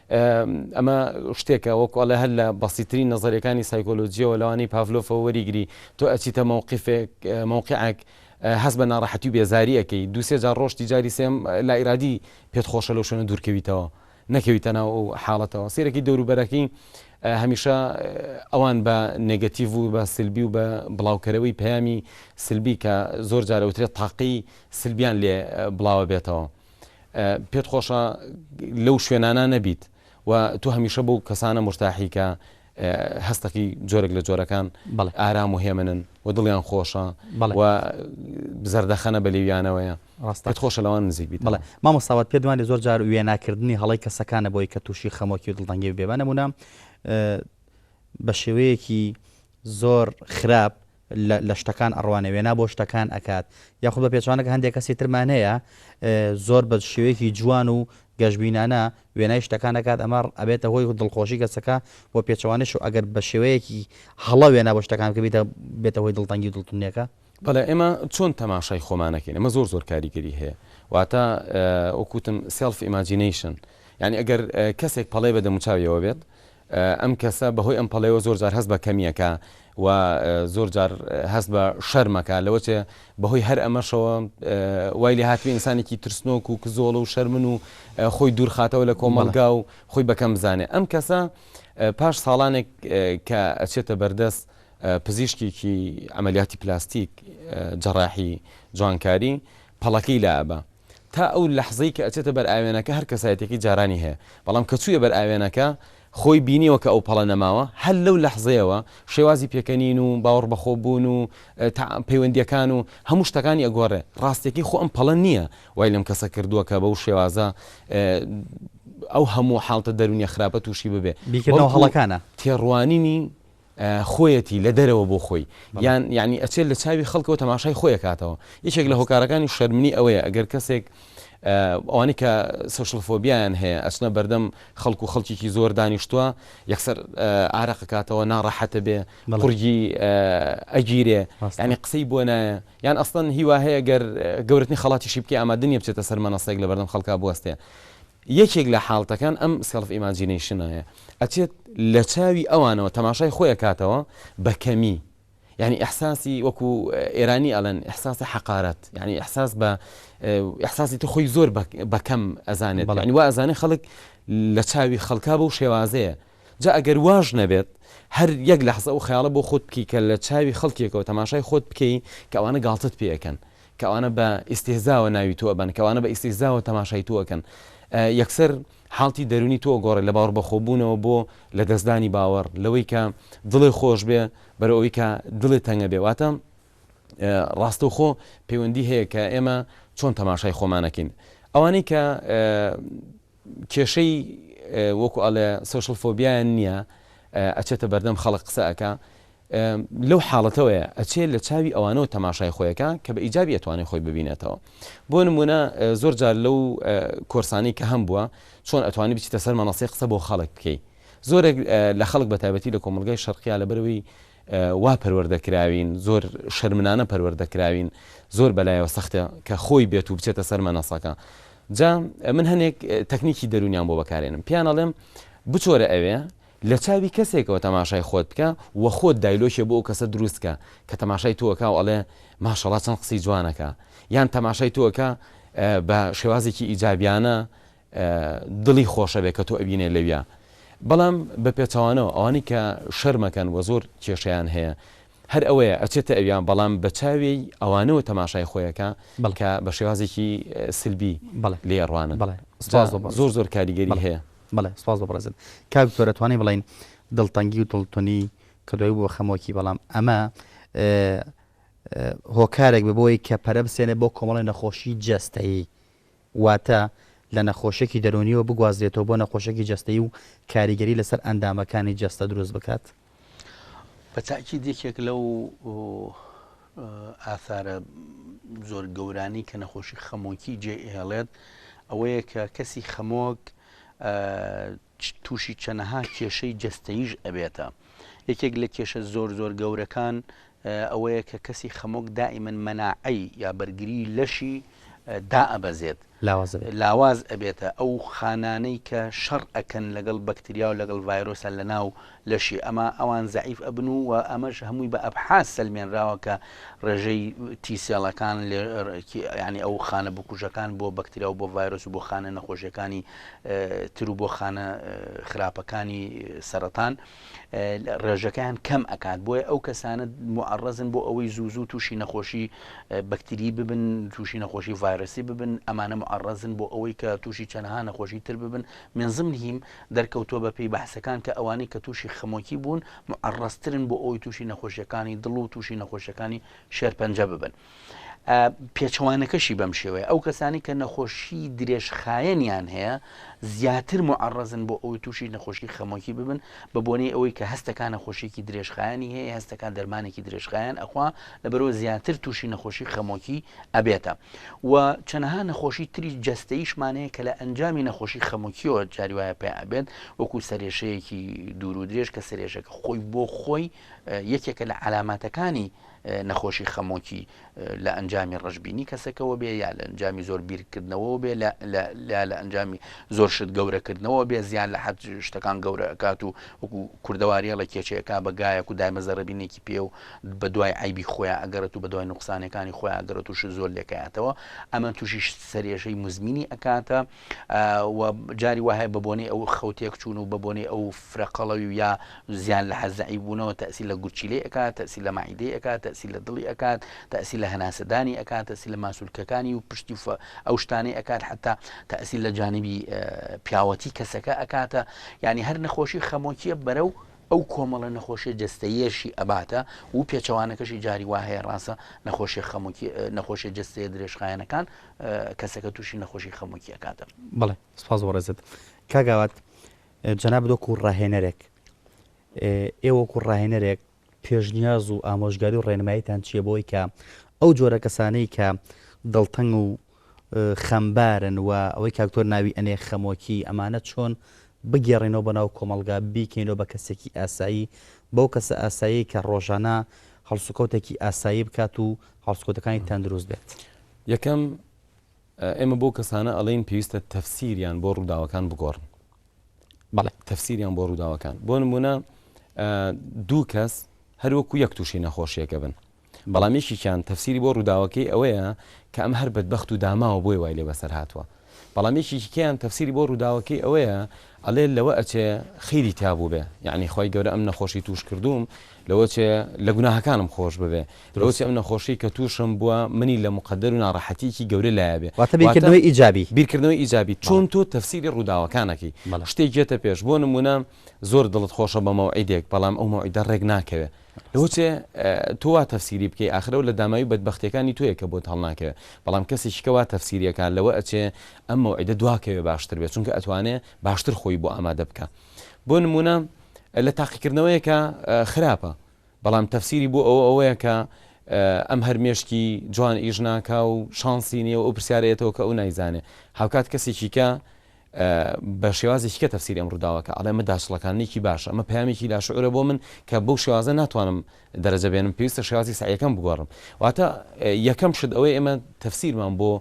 ئەمە شتێکە وەکو ئەڵێ هەر لە بەسیترین نەزەرەکانی سایکۆلۆجیەوە لەوانەی پاڤلۆفەوە وەریگری تۆ ئەچیتە مەوقیفێک مەوقیعەک هەست بە ناڕەحەتی و بێزاری ئەکەی دوو سێ جار ڕۆشتی جاری سێم لا ئیرادی پێت خۆشە لەو شوێنە دوورکەویتەوە نەکەویتە ناو ئەو حاڵەتەوە سەیرەکی دەور و بەرەکی هەمیشە ئەوان بە نێگەتیڤ و بە سلبی و بە بڵاوکەرەوەی پەیامی سلبی کە زۆر جار ئەوترێت تاقی سلبیان لێ بڵاوە بێتەوە پێت خۆشە لەو شوێنانە نەبیت و تۆ هەمیشە بۆ کەسانە مرتاحی کە هەستەکی جۆرێک لە جۆرەکان ئارام و هێمنن و دڵیان خۆشە و زەردەخەنە بە لێویانەوەیە ڕاستەت خۆشە لەوان نزیک بیت بڵێ مامۆستاوات پێ دوانی زۆر جار وێناکردنی هەڵی کەسەکانە بۆی کە تووشی خەمۆکی و دڵدەنگی بێبانەمونە بە شێوەیەکی زۆر خراپ لە شتەکان ئەڕوانێ وێنا بۆ شتەکان ئەکات یاخود بە پێچەوانەکە هەندێ کەسی ترمان هەیە زۆر بە شێوەیەکی جوان و گەشبینانە وێنای شتەکان ئەکات ئەمە ئەبێتە هۆی دڵخۆشی کەسەکە و پێچەوانەش و ئەگەر بە شێوەیەکی هەڵە وێنا بۆ شتەکان کە بیتە بێتە هۆی دڵتەنگی و دڵتونێکە بەڵێ ئێمە چۆن تەماشای خۆمانەکەین ئەمە زۆر زۆر کاریگەری هەیە واتە وەکوتم سێڵف ئیماجینەیشن یعنی ئەگەر کەسێک پەڵەی بە دەموچاویەوە بێت ئەم کەسە بەهۆی ئەم پەڵەیەوە زۆر جار هەست بە کەمی ئەکا و زۆر جار هەست بە شەرم ئەکا لەوەچێ بەهۆی هەر ئەمەشەوە وای لێ هاتبێ ئینسانێکی ترسنۆک و کزۆڵە و شەرمن و خۆی دوورخاتەوە لە کۆمەڵگا و خۆی بەکەم بزانێ ئەم کەسە پاش ساڵانێک کە ئەچێتە بەردەست پزیشکێکی ئەمەلیاتی پلاستیک جەڕاحی جوانکاری پەڵەکەی لابە تا ئەو لەحزەی کە ئەچێتە بەر ئاوێنەکە هەر کەسایەتیەکەی جارانی هەیە بەڵام کە چوویە بەر ئاوێنەکە خۆی بینیوە کە ئەو پەڵە نەماوە هەر لەو لەحزەیەوە شێوازی پێکەنین و باوەڕ بەخۆ بوون و پەیوەندیەکان و هەموو شتەکانی ئەگۆڕێ ڕاستەکەی خۆ ئەم پەڵە نیە وای لەم کەسە کردووە کە بەو شێوازە ئەو هەموو حاڵتە دەرونیە خراپە تووشی ببێ بیکردنەوە هەڵەکانە تێڕوانینی خۆیەتی لە دەرەوە بۆ خۆی یان یانی ئەچێت لە چاوی خەڵکەوە تەماشای خۆی کاتەوە یەکێک لە هۆکارەکانی شەرمنی ئەوەیە ئەگەر کەسێک ئەوانی کە سوشل فۆبیان هەیە ئەچنە بەردەم خەڵکو خەڵکیی زۆر دانیشتووە یەکسەر ئارەقە کاتەوە ناڕەحەتە بێ قورگی ئەگیرێ ینی قسەی بۆ نایە یان ئەستن هیوا هەیە گەر گەورتنی خەڵاتیشی بکە ئامادنیە بچێتە سەر مەنەسێک لە بەردەم خەڵکا بوەستێ یەکێک لە حاڵتەکان ئەم سێڵف ئیماجینەیشنایە، ئەچێت لە چاوی ئەوانەوە تەماشای خۆی ئەکاتەوە بە کەمی، یانی ئیحساسی وەکو ئێرانی ئەڵێن ئیحساسی حەقارەت، یانی ئیحساس بە ئیحساسی تۆ خۆی زۆر بە کەم ئەزانێت، یانی وا ئەزانێت خەڵک لە چاوی خەڵکا بەو شێوازەیە. جا ئەگەر واش نەبێت هەر یەک لەحزە ئەو خەیاڵە بۆ خۆت بکەی کە لە چاوی خەڵکێکەوە تەماشای خۆت بکەی کە ئەوانە گاڵتەت پێ ئەکەن کە ئەوانە بە ئیستیهزاوە ناوی تۆ ئەبەن کە ئەوانە بە ئیستیهزاوە تەماشای تۆ ئەکەن یەکسەر حاڵتی دەروونی تۆ ئەگۆڕێ لە باوەڕبەخۆبوونەوە بۆ لە دەستدانی باوەڕ لەوەی کە دڵێ خۆش بێ بەرەو ئەوەی کە دڵێ تەنگە بێ واتە ڕاستەوخۆ پەیوەندی هەیە کە ئێمە چۆن تەماشای خۆمان ئەکەین ئەوانەی کە کێشەی وەکو ئەڵێ سۆشڵ فۆبیایان نیە ئەچێتە بەردەم خەڵک قسە ئەکا لەو حاڵەتەوەیە ئەچێ لە چاوی ئەوانەوە تەماشای خۆیەکە کە بە ئیجابی ئەتوانێت خۆی ببینێتەوە بۆ نمونە زۆر جار لەو کۆرسانی کە هەم بووە چۆن ئەتوانی بچیتە سەر مەنەسی قسە بۆ خەڵک بکەی زۆرێک لە خەڵک بە تایبەتی لە کۆمەلگای شەرقیا لە بەرەوەی وا پەروەردە کراوین زۆر شەرمنانە پەروەردە کراوین زۆر بەلایەوە سەختە کە خۆی بێت و بچێتە سەر مەنەسەکە جا من هەنێک تەکنیکی دەرونیان بۆ بەکارێنم پیان ئەڵێم بچۆرە ئەوێ لە چاوی کەسێکەوە تەماشای خۆت بکە و خۆت دایلۆکێ بۆ ئەو کەسە دروستکە کە تەماشای تۆکە و ئەڵێ ماشەڵا چەند قسەی جوانەکە یان تەماشای تۆکە بە شێوازێکی ئیجابیانە دڵی خۆشەبێ کە تۆ ئەبینێ لەویا بەڵام بە پێچەوانەوە ئەوانەی کە شەرمەکەن وە زۆر کێشەیان هەیە هەر ئەوەیە ئەچێتە ئەویا بەڵام بە چاوێی ئەوانەوە تەماشای خۆیەکا کە بە شێوازێکی سلبی لێی ئەڕوانن جا زۆر زۆر کاریگەری هەیە. بەڵێ سپاس بۆ بەڕێزت کاک دکتۆر ئەتوانین بڵێین دڵتەنگی و دڵتونی کە دوای بووە خەمۆکی بەڵام ئەمە هۆکارێک ببووی کە پەرە بسێنێ بۆ کۆمەڵی نەخۆشی جەستەیی واتە لە نەخۆشیەکی دەروونیەوە بگوازرێتەوە بۆ نەخۆشیەکی جەستەیی و کاریگەری لەسەر ئەندامەکانی جەستە دروست بکات؟ بە تاکید یەکێک لەو ئاثارە زۆر گەورانی کە نەخۆشی خەمۆکی جێ ئێڵێت ئەوەیە کە کەسی خەمۆک تووشی چەنەها کێشەی جەستەییش ئەبێتە یەکێک لە کێشە زۆر زۆر گەورەکان ئەوەیە کە کەسی خەمۆک دائیمەن مەناعەی یا بەرگری لەشی دائەبەزێت لاواز ئەبێتە ئەو خانانەی کە شەڕ ئەکەن لەگەڵ بەکتریا و لەگەڵ ڤایرۆسە لەناو لەشی ئەما ئەوان زەعیف ئەبن و وە ئەمەش هەمووی بە ئەبحاس سەلمێنراوە کە ڕێژەی تی سێڵەکان لە یانی ئەو خانە بکوژەکان بۆ بەکتریا و بۆ ڤایرۆس و بۆ خانە نەخۆشیەکانی تر و بۆ خانە خراپەکانی سەرەتان ڕێژەکەیان کەم ئەکات بۆیە ئەو کەسانە معڕزن بۆ ئەوەی زوو زوو تووشی نەخۆشی بەکتری ببن تووشی نەخۆشی ڤایرۆسی ببن ئەمانە معڕزن بۆ ئەوەی کە تووشی چەنەها نەخۆشی تر ببن منزم نیم دەرکەوتووە بەپێی بەحسەکان کە ئەوانەی کە تووشی خەمۆکی بوون موعەڕەزترن بۆ ئەوەی تووشی نەخۆشیەکانی دڵ و تووشی نەخۆشیەکانی شێرپەنجە ببن. پێچەوانەکەشی بەم شێوەیە ئەو کەسانی کە نەخۆشی درێژخایەنیان هەیە زیاتر معڕزن بۆ ئەوەی تووشی نەخۆشی خەمۆکی ببن بە بۆنەی ئەوەی کە هەستەکان نەخۆشیێکی درێژخایانی هەیە هەستەکان دەرمانێکی درێژخایەن ئەخوا لەبەرەوە زیاتر تووشی نەخۆشی خەمۆکی ئەبێتە. و چەنەها نەخۆشی تری جەستەیشمان هەیە کە لە ئەنجامی نەخۆشی خەمۆکیەوە جاری وایە پێ ئەبێت وەکو سەرێشەیەکی دوور و درێژ کە سرێشەکە خۆی بۆ خۆی یەکێکە لە علاماتەکانی نەخۆشی خەمۆکی لە ئەنجامی ڕژبینی کەسەکەەوە بێ یا لە ئەنجامی زۆر بیرکردنەوە بێ لە ئەنجامی زۆر شت گەورەکردنەوە بێ زیان لە حەت شتەکان گەورەکات و وەکو کوردەواریە لە کێچەکە بەگایەک و دایمە زەربینێکی پێ و بەدوای عەیبی خۆیا ئەگەڕێت و بەدوای نوقسانەکانی خۆیا ئەگەڕێت و شت زۆر لێکایەتەوە ئەمە تووشی سەرێژەی مزمینی ئەکاتە و جاری وهەیە بە بۆنەی ئەو خەوتێک چوون و بە بۆنەی ئەو فرەقەڵەوی و یا زیان لە حەزعی بوونەوە تەسی لە گورچیلەی ئەکات تەسی لە مەعیدەی ئەکات تەسی لە دڵی ئەکات تەسی لە هەناسەدانی ئەکات تەسی لە ماسولکەکانی و پشتی فە ئەو شتانەی ئەکات حتا تەسی لە جانبی پیاوەتی کەسەکە ئەکاتە ینی هەر نەخۆشی خەمۆکیە بەرە و ئەو کۆمەڵە نەخۆشیە جەستەییەشی ئەباتە و پێچەوانەکەشی جاری وا هەیە ڕاستە نەخۆشی خەمکی نەخۆشی جستەیە درێژخایەنەکان کەسەکە تووشی نەخۆشی خەمکی ئەکاتە بڵێ سپاس وەڕێزت کاگاوات جەنا بدۆک و ڕاهێنەرێک ئێوەکو ڕاهێنەرێک پێشنیاز و ئامۆژگاری و ڕێنماییتان چییە بۆی کە ئەو جۆرە کەسانەی کە دڵتەنگ و خەمبارن و ئەوەی کاکتۆر ناوی ئەنێ خەمۆکی ئەمانە چۆن بگێڕینەوە بۆ ناو کۆمەڵگا بیکەینەوە بە کەسێکی ئاسایی بەو کەسە ئاسایەی کە ڕۆژانە هەڵسوکەوتێکی ئاسایی بکات و هەڵسکۆتەکانی تەندروست بێت. یەکەم ئێمە بۆ کەسانە ئەڵێن پێویستە تەفسیریان بۆ ڕووداوەکان بگۆڕن بەڵێ تەفسیریان بۆ ڕووداوەکان بۆ نمونە دوو کەس هەروەکو یەک تووشی نەخۆشیەکە بن بەڵام یەکێکیان تەفسیری بۆ ڕووداوەکەی ئەوەیە کە ئەم هەر بەدبەخت و داماوە بۆیە وای لێ بەسەر هاتووە بەڵام یەکێکی کەیان تەفسیری بۆ ڕووداوەکەی ئەوەیە ئەڵێ لەوە ئەچێ خیری تیا بووبێ یعنی خوای گەورە ئەم نەخۆشی تووش کردووم لەوە چێ لە گوناهەکانم خۆش ببێ لەوە چێ ئەم نەخۆشی کە تووشم بووە منی لە مقەدەر و ناڕەحەتیەکی گەورە لایە بێ واتە بیرکردنەوەی ئیجابی بیرکردنەوەی ئیجابی چۆن تۆ تەفسیری ڕووداوەکانەکەی شتێک یەتە پێش بۆ نموونە زۆر دڵت خۆشە بە مەوعیدێک بەڵام ئەو مەوعیدە ڕێک ناکەوێ لەوەچێ تۆ وا تەفسیری بکەی ئاخر ئەو لە داماوی بەدبەختیەکانی تۆیە کە بۆت هەڵناکەوێ بەڵام کەسێکی کە وا تەفسیری ئەکا لەوە ئەچێ ئەم مەوعیدە دوا کەوێ باشتر بێ چونکە ئەتوانێ باشتر خۆی بۆ ئامادە بکا بۆ نمونە لە تاقیکردنەوەیەکە خراپە بەڵام تەفسیری بۆ ئەوە ئەوەیە کە ئەم هەر مێشکی جوان ئیش ناکا و شانسی نییە و ئەو پرسیارەیەتەوە کە ئەو نایزانێ هاوکات کەسێکی کە بە شێوازێکی کە تەفسیری ئەم ڕووداوەکە ئەڵێ ئەمە داچڵەکاننێکی باشە ئەمە پەیامێکی لاشعورە بۆ من کە بەو شێوازە ناتوانم دەرەجە بێنم پێویستە شێوازی سەعیەکەم بگۆڕم واتە یەکەم شت ئەوەی ئێمە تەفسیرمان بۆ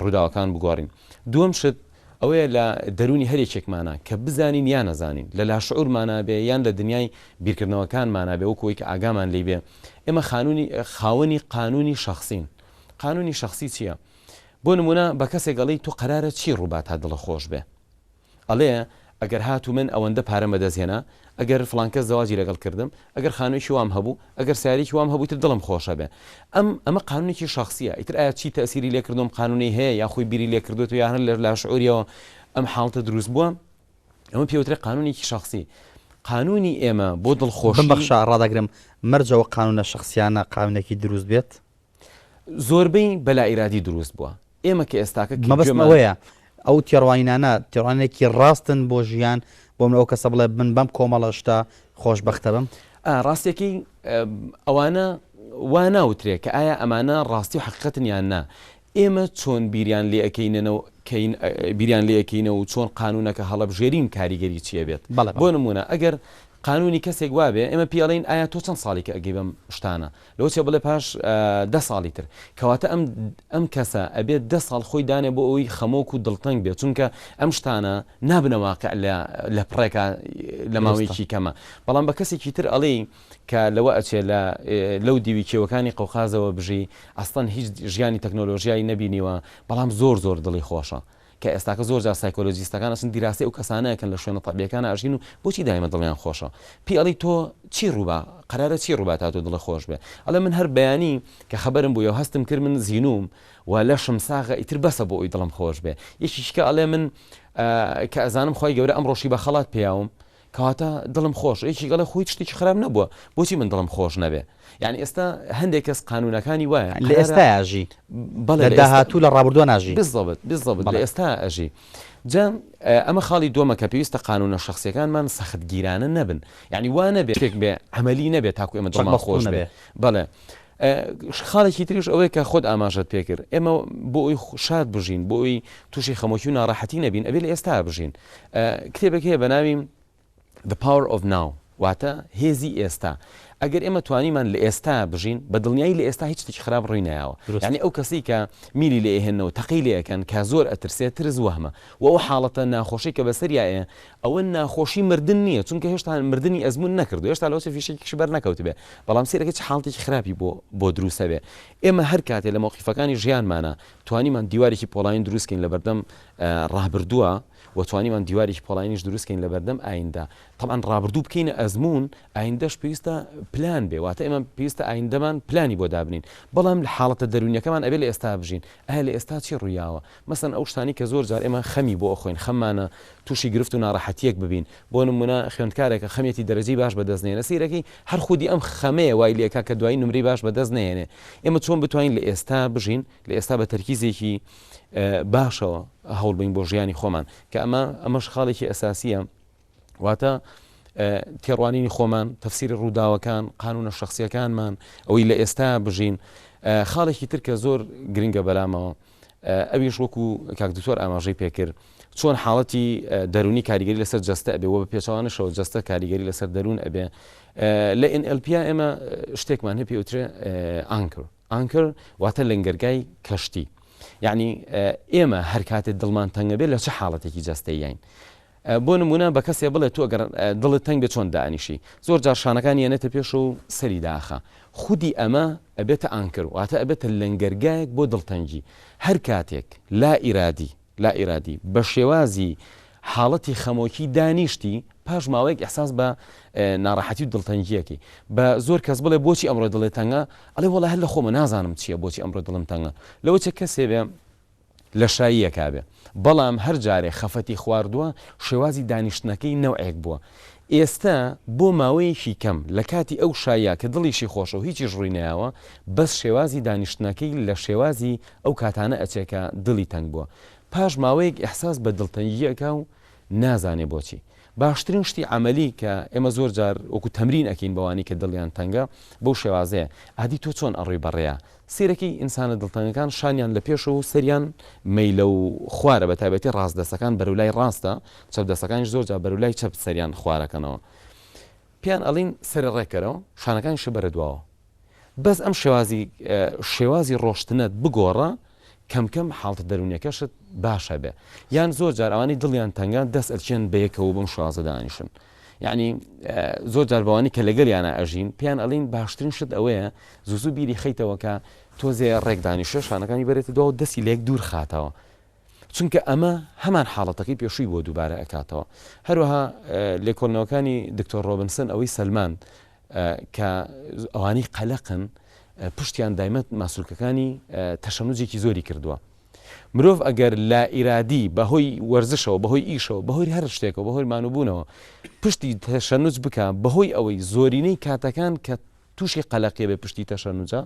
ڕووداوەکان بگۆڕین دووەم شت ئەوەیە لە دەروونی هەر یەکێکمانە کە بزانین یا نەزانین لە لاشعورمانە بێ یان لە دنیای بیرکردنەوەکانمانە بێ وەکوەی کە ئاگامان لی بێ ئێمە خانوونی خاوەنی قانونی شخصین قانونی شخصی چییە؟ بۆ نمونە بە کەسێک ئەڵێی تۆ قەرارە چی ڕووبا تا دڵە خۆش بێ ئەڵێ ئەگەر هاتوو من ئەوەندە پارەم بە دەست هێنا ئەگەر فڵان کەس زەواجی لەگەڵ کردم ئەگەر خانوویەکی وام هەبوو ئەگەر سارێکی وام هەبوو تر دڵم خۆش ئەبێ ئەم ئەمە قانونێکی شەخسیە ئیتر ئایا چی تەئسیری لێ کردووە ئەم قانونەی هەیە یا خۆی بیری لێ کردووە یا هەر لە لاشعوریەوە ئەم حاڵتە دروست بووە ئەمە پێ وترێ قانونێکی شەخسی قانونی ئێمە بۆ دڵخۆشی بمبەخشە ڕادەگرم مەرجە ئەو قانونە شەخسیانە قانونێکی دروست بێت؟ زۆربەی بەلائیرادی دروست بووە ئێمە کە ئێستاکە کە مەبەستم گوێمان ئەوەیە ئەو تێڕوانینانە تێڕوانینێکی ڕاستن بۆ ژیان بۆ من ئەو کەسە بڵێ من بەم کۆمەڵە شتە خۆشبەختە بم ئا ڕاستیەکەی ئەوانە وا ناوترێ کە ئایا ئەمانە ڕاستی و حەقیقەتن یان نا ئێمە چۆن بیریان لێ ئەکەینەوە کەین ئە، بیریان لێ ئەکەینەوە و چۆن قانوونەکە هەڵەبژێرین کاریگەری چی ئەبێت بەڵێ بەڵێ بۆ نموونە ئەگەر قانوونی کەسێک وابێ ئێمە پێی ئەڵێین ئایا تۆ چەند ساڵیکە ئەگەی بەم شتانە لۆچە بڵێ پاش دە ساڵی تر. کەواتە ئەم ئەم کەسە ئەبێت دە ساڵ خۆی دانێ بۆ ئەوەی خەمۆک و دڵتەنگ بێت چونکە ئەم شتانە نابنە واقع لە لە پڕێکا لە ماوەیەکی کەما بەڵام بە کەسێکی تر ئەڵێی کە لەوە ئەچێ لە لەو دیوی کێوەکانی قەوقازەوە بژی ئەسڵەن هیچ ژیانی تەکنۆلۆژیای نەبینیوە بەڵام زۆر زۆر دڵی خۆشە کە ئێستاکە زۆر جار سایکۆلۆجیستەکان ئەچن دیراسەی ئەو کەسانە ئەکەن لە شوێنە تەبیەکانا ئەژین و بۆچی دایمە دڵیان خۆشە پێی ئەڵی تۆ چی ڕووبا قەرارە چی ڕووبا تا تۆ دڵت خۆش بێ ئەڵێ من هەر بەیانی کە خەبەرم بۆیەو هەستم کرد من زینووم و لەشم ساغە ئیتر بەسە بۆ ئەوی دڵم خۆش بێ یەکیش کە ئەڵێ من کە ئەزانم خوای گەورە ئەمڕۆشی بە خەڵات پێیاوم کەواتە دڵم خۆش یەکێک ئەڵێ خۆ هیچ شتێکی خراپ نەبووە بۆچی من دڵم خۆش نەبێ یانی ئێستا هەندێک کەس قانوونەکانی وایە لە ئێستایا ئەژی بەڵێ لە داهاتوو لە ڕابردووە ناژی بزەبت بزەبت لە ئێستا ئەژی جا ئەمە خاڵی دووەمە کە پێویستە قانوونە شخصیەکانمان سەختگیرانە نەبن یعنی وا نەبێ شتێک بێ عملی نەبێ تاکو ئێمە دڵمان خۆش نەبێ بەڵێ خاڵێکی تریش ئەوەیە کە خۆت ئاماژەت پێ کرد، ئێمە بۆ ئەوەی شاد بژین، بۆ ئەوەی تووشی خەمۆکی و ناڕەحەتی نەبین، ئەبێ لە ئێستایا بژین. کتێبێک هەیە بە ناوی The Power of Now، واتە هێزی ئێستا. ئەگەر ئێمە توانیمان لە ئێستایا بژین، بە دڵنیایی لە ئێستا هیچ شتێکی خراپ ڕووی نایاوە. یانی ئەو کەسەی کە میلی لێ ئەهێنن و تەقەی لێ ئەکەن کە زۆر ئەترسێ، ترس وەهمە و ئەو حاڵەتە ناخۆشەی کە بەسەریا ئەیە، ئەوە ناخۆشی مردن نیە چونکە هێشتا مردنی ئەزمون نەکردوە هێشتا لەوەچە فیشەکێکیشی بەرنەکەوتبێ بەڵام سەیرەکە چ حاڵتێکی خراپی بۆ بۆ دروست ئەبێ ئێمە هەر کاتێ لە مەوقیفەکانی ژیانمانا توانیمان دیوارێکی پۆڵاین دروست کەین لەبەردەم ڕابردوە و توانیمان دیوارێکی پۆڵاینیش دروست کەین لەبەردەم ئایندە تەڵان ڕابردوو بکەینە ئەزمون ئایندەش پێویستە پلان بێ واتە ئێمە پێویستە ئایندەمان پلانی بۆ دابنین بەڵام لە حاڵەتە دەرونیەکەمان ئەبێ لە ئێستا بژین ئایا لە ئێستا چی ڕویاوە مەسەن ئەو شتانەی کە زۆر جار ئێمە خەمی بۆ ئەخۆین خەممانە تووشی گرفت و ناڕەحەتییەک ببین، بۆ نموونە خوێندکارێکە خەمێتی دەرەجەی باش بەدەست نەهێنێ، سەیرەکەی هەر خودی ئەم خەمەیە وای لێکا کە دوایی نمرەی باش بەدەست نەهێنێ، ئێمە چۆن بتوانین لە ئێستا بژین، لە ئێستا بە تەرکیزێکی باشەوە هەوڵبەین بۆ ژیانی خۆمان، کە ئەمە ئەمەش خاڵێکی ئەساسییە. واتە تێڕوانینی خۆمان تەفسیری ڕووداوەکان قانونە شخصیەکانمان ئەوەی لە ئێستا بژین خاڵێکی تر کە زۆر گرنگە بەلامەوە ئەویش وەکو کاک دکتۆر ئاماژەی پێکرد چۆن حاڵەتی دەرونی کاریگەری لەسەر جەستە ئەبێ وە بە پێچوانشەوە جەستە کاریگەری لەسەر دەروون ئەبێ لە NLP ئێمە شتێکمان هەپی وترێ ئانکر ئانکر واتە لەنگەرگای کەشتی یعنی ئێمە هەر کاتێ دڵمان تەنگەبێت لە چه حاڵەتێکی جەستەیین بۆ نموونە بە کەسێ بڵێ تۆ گەر دڵت تەنگ بێ چۆن دائەنیشی؟ زۆر جار شانەکانی یەنێتە پێشەوە و سەری دائەخا. خودی ئەمە ئەبێتە ئانکر، واتە ئەبێتە لەنگەرگایەک بۆ دڵتەنگی. هەر کاتێک لا ئیرادی، لا ئیرادی، بە شێوازی حاڵەتی خەمۆکی دانیشتی، پاش ماوەیەک ئیحساس بە ناڕەحەتی و دڵتەنگی ئەکەی. بە زۆر کەس بڵێ بۆچی ئەمڕۆ دڵێ تەنگە؟ ئەڵێ وەڵا هەر لە خۆمە نازانم چییە بۆچی ئەمڕۆ دڵم تەنگە. لەوەچێ کەسێ بێ لەشاییەکا بێ بەڵام هەر جارێ خەفەتی خواردووە شێوازی دانیشتنەکەی نەوعێک بووە ئێستە بۆ ماوەیەکی کەم لە کاتی ئەو شاییە کە دڵیشی خۆشە و هیچیش ڕووی نەیاوە بەس شێوازی دانیشتنەکەی لە شێوازی ئەو کاتانە ئەچێ کە دڵی تەنگ بووە پاش ماوەیەک ئیحساس بە دڵتەنگی ئەکا و نازانێ بۆچی. باشترین شتی عەمەلی کە ئێمە زۆر جار وەکو تەمرین ئەکەین بەوانەی کە دڵیان تەنگە بەو شێوازەیە، ئادی تۆ چۆن ئەڕۆی بە ڕێیا؟ سەیرەکەی ئینسانە دڵتەنگەکان شانیان لە پێشە و سەریان مەیلە و خوارە بە تایبەتی ڕاست دەستەکان بەرەو لای ڕاستە چەپ دەستەکانیش زۆر جار بەرەو لای چەپ سەریان خوارەکەنەوە پێیان ئەڵێین سەرە ڕێک کەرەوە شانەکانیشە بەرە دواوە. بەس ئەم شێوازی شێوازی ڕۆشتنەت بگۆڕە کەم کەم حاڵتە دەروونیەکەشت باشە بێ یان زۆر جار ئەوانی دڵیان تەنگان دەست ئەچێن بەیەکەوە بم شازە دانیشن یعنی زۆر جار بەوانی کە لەگەل یانە ئەژین پێیان ئەلین باشترین شت ئەوەیە زوزو بیری خیتەوەکە تۆزێ ڕێکدانی شێشانەکانی بەرێتە دو دەستی لێک دوور خاتەوە چونکە ئەمە هەمان حاڵەتەکەی پێشووی بۆ دووبارە ئەکاتەوە هەروەها لێکۆلنەوەکانی دکتۆر ڕۆبنسن ئەوەی سلمان کە ئەوانەی قەلەقن پشتیان دایمە ماسولکەکانی تەشەنوجێکی زۆری کردووە مرۆڤ ئەگەر لا ئیرادی بەهۆی وەرزشەوە بەهۆی ئیشەوە بەهۆی هەر شتێکەوە بەهۆی مانوبوونەوە پشتی تەشەنوج بکە بەهۆی ئەوەی زۆرینەی کاتەکان کە تووشی قەلەقیە بێ پشتی تەشەنوجە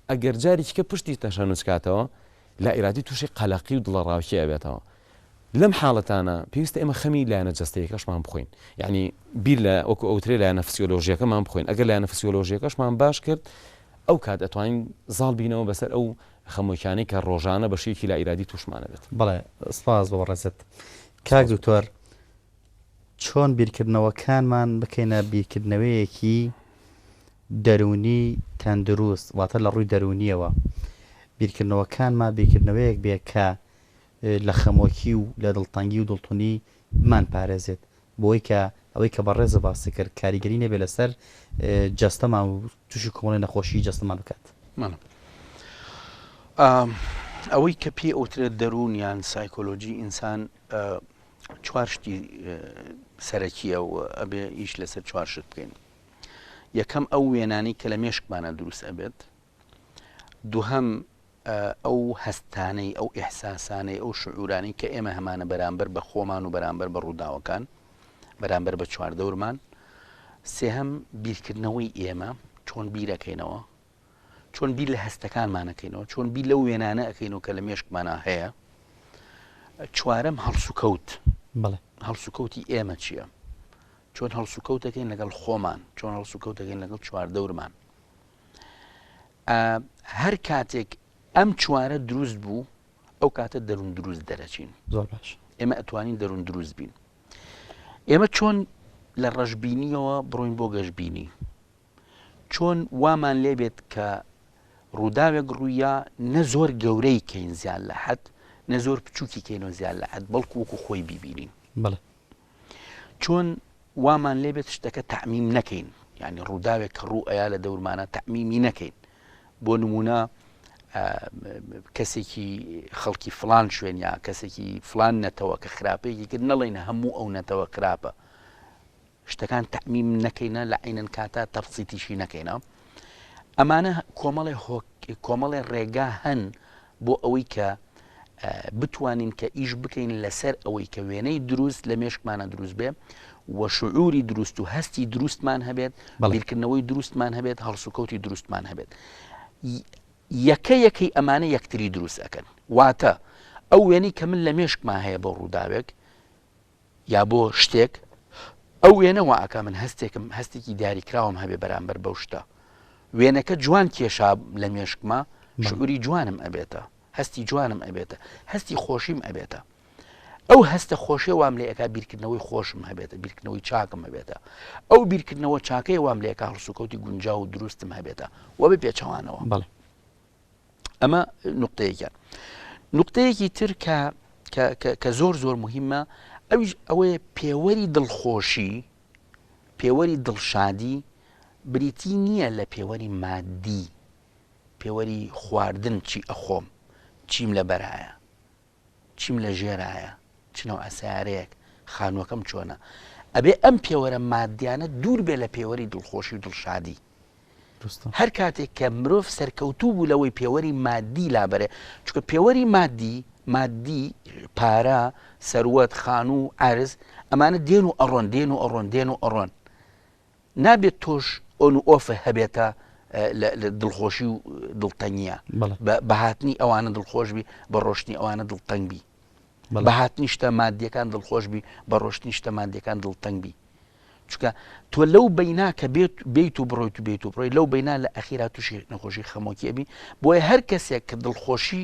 ئەگەر جاریکە پشتی تەشەنوج کاتەوە لا ئیرادی تووشی قەلەقی و دڵەڕاوکی ئەبێتەوە لەم حاڵەتانە پێویستە ئێمە خەمی لایەنە جەستەییەکەشمان بخۆین، یەعنی بیر لە وەکو ئەوترێ لایەنە فسیۆلۆژییەکەمان بخۆین، ئەگەر لایەنە فسیۆلۆژییەکەشمان باش کرد ئەو کات ئەتوانین زاڵ بینەوە بەسەر ئەو خەمۆکیانەی کە ڕۆژانە بە شێوەیەکی لا ئیرادی تووشمان ئەبێت. بەڵێ سپاس بۆ بەڕێزت. کاک دکتۆر چۆن بیرکردنەوەکانمان بکەینە بیرکردنەوەیەکی دەروونی تەندروست واتە لە ڕووی دەروونییەوە بیرکردنەوەکانمان بیرکردنەوەیەک بێ کە لە خەمۆکی و لە دڵتەنگی و دڵتونی بمان پارێزێت بۆی کە ئەوەی کە بەڕێزە باسی کرد کاریگەری نەبێت لەسەر جەستەمان و توشی کۆمەڵی نەخۆشی جەستەمان بکات. مەلا ئەوەی کە پێی ئەوترێت دەرون یان سایکۆلۆجی ئینسان چوار شتی سەرەکیە و ئەبێ ئیش لەسەر چوار شت بکەین یەکەم ئەو وێنانی کە لە مێشکمانە دروست ئەبێت دووهەم، ئەو هەستانەی، ئەو ئیحساسانەی، ئەو شعورانەی کە ئێمە هەمانە بەرامبەر بە خۆمان و بەرامبەر بە ڕووداوەکان، بەرامبەر بە چواردەورمان. سێهەم، بیرکردنەوەی ئێمە، چۆن بیر ئەکەینەوە، چۆن بیر لە هەستەکانمان ئەکەینەوە، چۆن بیر لەو وێنانە ئەکەینەوە کە لە مێشکمانا هەیە. چوارەم، هەڵسوکەوت، هەڵسوکەوتی ئێمە چییە، چۆن هەڵسوکەوت دەکەین لەگەڵ خۆمان، چۆن هەڵسوکەوت دەکەین لەگەڵ چواردەورمان. هەر کاتێک ئەم چوارە دروست بوو ئەو کاتە دەروون دروست دەرەچین زۆر باش ئێمە ئەتوانین دەروون دروست بین ئێمە چۆن لە ڕەشببینیەوە بڕۆین بۆ گەشببینی چۆن وامان لێبێت کە ڕووداوێک ڕوویە نە زۆر گەورەی کەین زیان لە حەت نە زۆر بچووکی کەینەوە زیان لە حەت بەڵکو وەکو خۆی ببینین بڵێ چۆن وامان لێ بێت شتەکە تەعمیم نەکەین یعنی ڕووداوێک کە ڕوو ئەیا لە دەورمانە تەعمیمی نەکەین بۆ نمونە کەسێکی خەڵکی فلان شوێنیا کەسێکی فلان نەتەوە کە خراپەیەکی کرد نەڵێن هەموو ئەو نەتەوە خراپە شتەکان تەعمیم نەکەینە لە عینەن کاتە تەفسیتیشی نەکەینە ئەمانە کۆمەڵێ کۆمەڵێ ڕێگا هەن بۆ ئەوەی کە بتوانین کە ئیش بکەین لەسەر ئەوەی کە وێنەی دروست لە مێشکمانە دروست بێ و شعوری دروست و هەستی دروستمان هەبێت بەڵیرکردنەوەی دروستمان هەبێت هەڵسوکەوتی دروستمان هەبێت یەکە یەکەی ئەمانە یەکتری دروست ئەەکەن واتە ئەو وێنەی کە من لە مێشکمان هەیە بۆ ڕووداوێک یا بۆ شتێک ئەو وێنە وا ئەکا من هەستێکم هەستێکی دیاریکراوم هەبێ بەرامبەر بەو شتە وێنەکە جوان کێشا لە مێشکمە شعوری جوانم ئەبێتە هەستی جوانم ئەبێتە هەستی خۆشیم ئەبێتە ئەو هەستە خۆشێ وام لێ ئەکا بیرکردنەوەی خۆشم هەبێتە بیرکردنەوەی چاکم هەبێتە ئەو بیرکردنەوە چاکەی وام لێکا هەڵسوکەوتی گونجا و دروستم هەبێتە وە بە پێچەوانەوە بڵێ ئەمە نقطەیەکیان نقطەیەکی تر کە کە زۆر زۆر مهمە ئەویش ئەوەیە پێوەری دڵخۆشی پێوەری دڵشادی بریتی نییە لە پێوەری مادی پێوەری خواردن چی ئەخۆم چیم لە بەرایە چیم لە ژێرایە؟ چ نەوعە سەیارەیەک؟ خانووەکەم چۆنە؟ ئەبێ ئەم پێوەرە مادیانە دوور بێ لە پێوەری دڵخۆشی و دڵشادی. دروستە. هەر کاتێک کە مرۆڤ سەرکەوتوو بوو لەوەی پێوەری مادی لابەرێ، چونکە پێوەری مادی، مادی، پارە، سەروەت، خانوو، عەرز، ئەمانە دێن و ئەڕۆن، دێن و ئەڕۆن، دێن و ئەڕۆن. نابێت تۆش ئۆن و ئۆفە هەبێتە دڵخۆشی و دڵتەنگە بەهاتنی ئەوانە دڵخۆش بی بە ڕۆشتنی ئەوانە دڵتەنگ بی بەهات نیشتە مادیەکان دڵخۆش بی بە ڕۆشت نیشتە مادیەکان دڵتەنگ بی چکە تۆ لەو بینا کە بێت بیت و بڕۆیت و بێت و بڕۆی لەو بینا لە ئەخیرا تووشی نەخۆشی خەمۆکی ئەبی بۆیە هەر کەسێک کە دڵخۆشی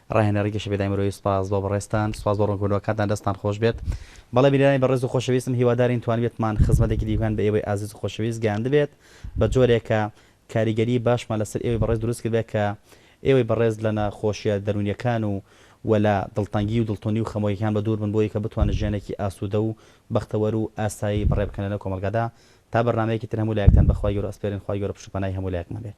ڕاهێنەری گەشەپێدانی مرۆیی سوپاس بۆ بەڕێزتان، سوپاس بۆ ڕوونکردنەوەکانتان دەستتان خۆشبێت. بەڵێ برایانی بەڕێز و خۆشەویستم هیوادارین توانیبێتمان خزمەتێکی دیوگان بە ئێوەی ئازیز و خۆشەویست گەیاندبێت بە جۆرێک کە کاریگەری باشمان لەسەر ئێوەی بەڕێز دروست کردبێت کە ئێوەی بەڕێز لە نەخۆشیە دەروونیەکان و و لە دڵتەنگی و دڵتونی و خەمۆکیەکان بەدوور بن بۆی کە بتوانن ژیانێکی ئاسودە و بەختەوەر و ئاسایی بەڕێ بکەن لەنێو کۆمەڵگادا تا بەرنامەیەکی تر هەموو لایەکتان بە خوای گەورە ئەسپێرین خوای گەورە پشت و پەنای هەموو لایەکمان بێت.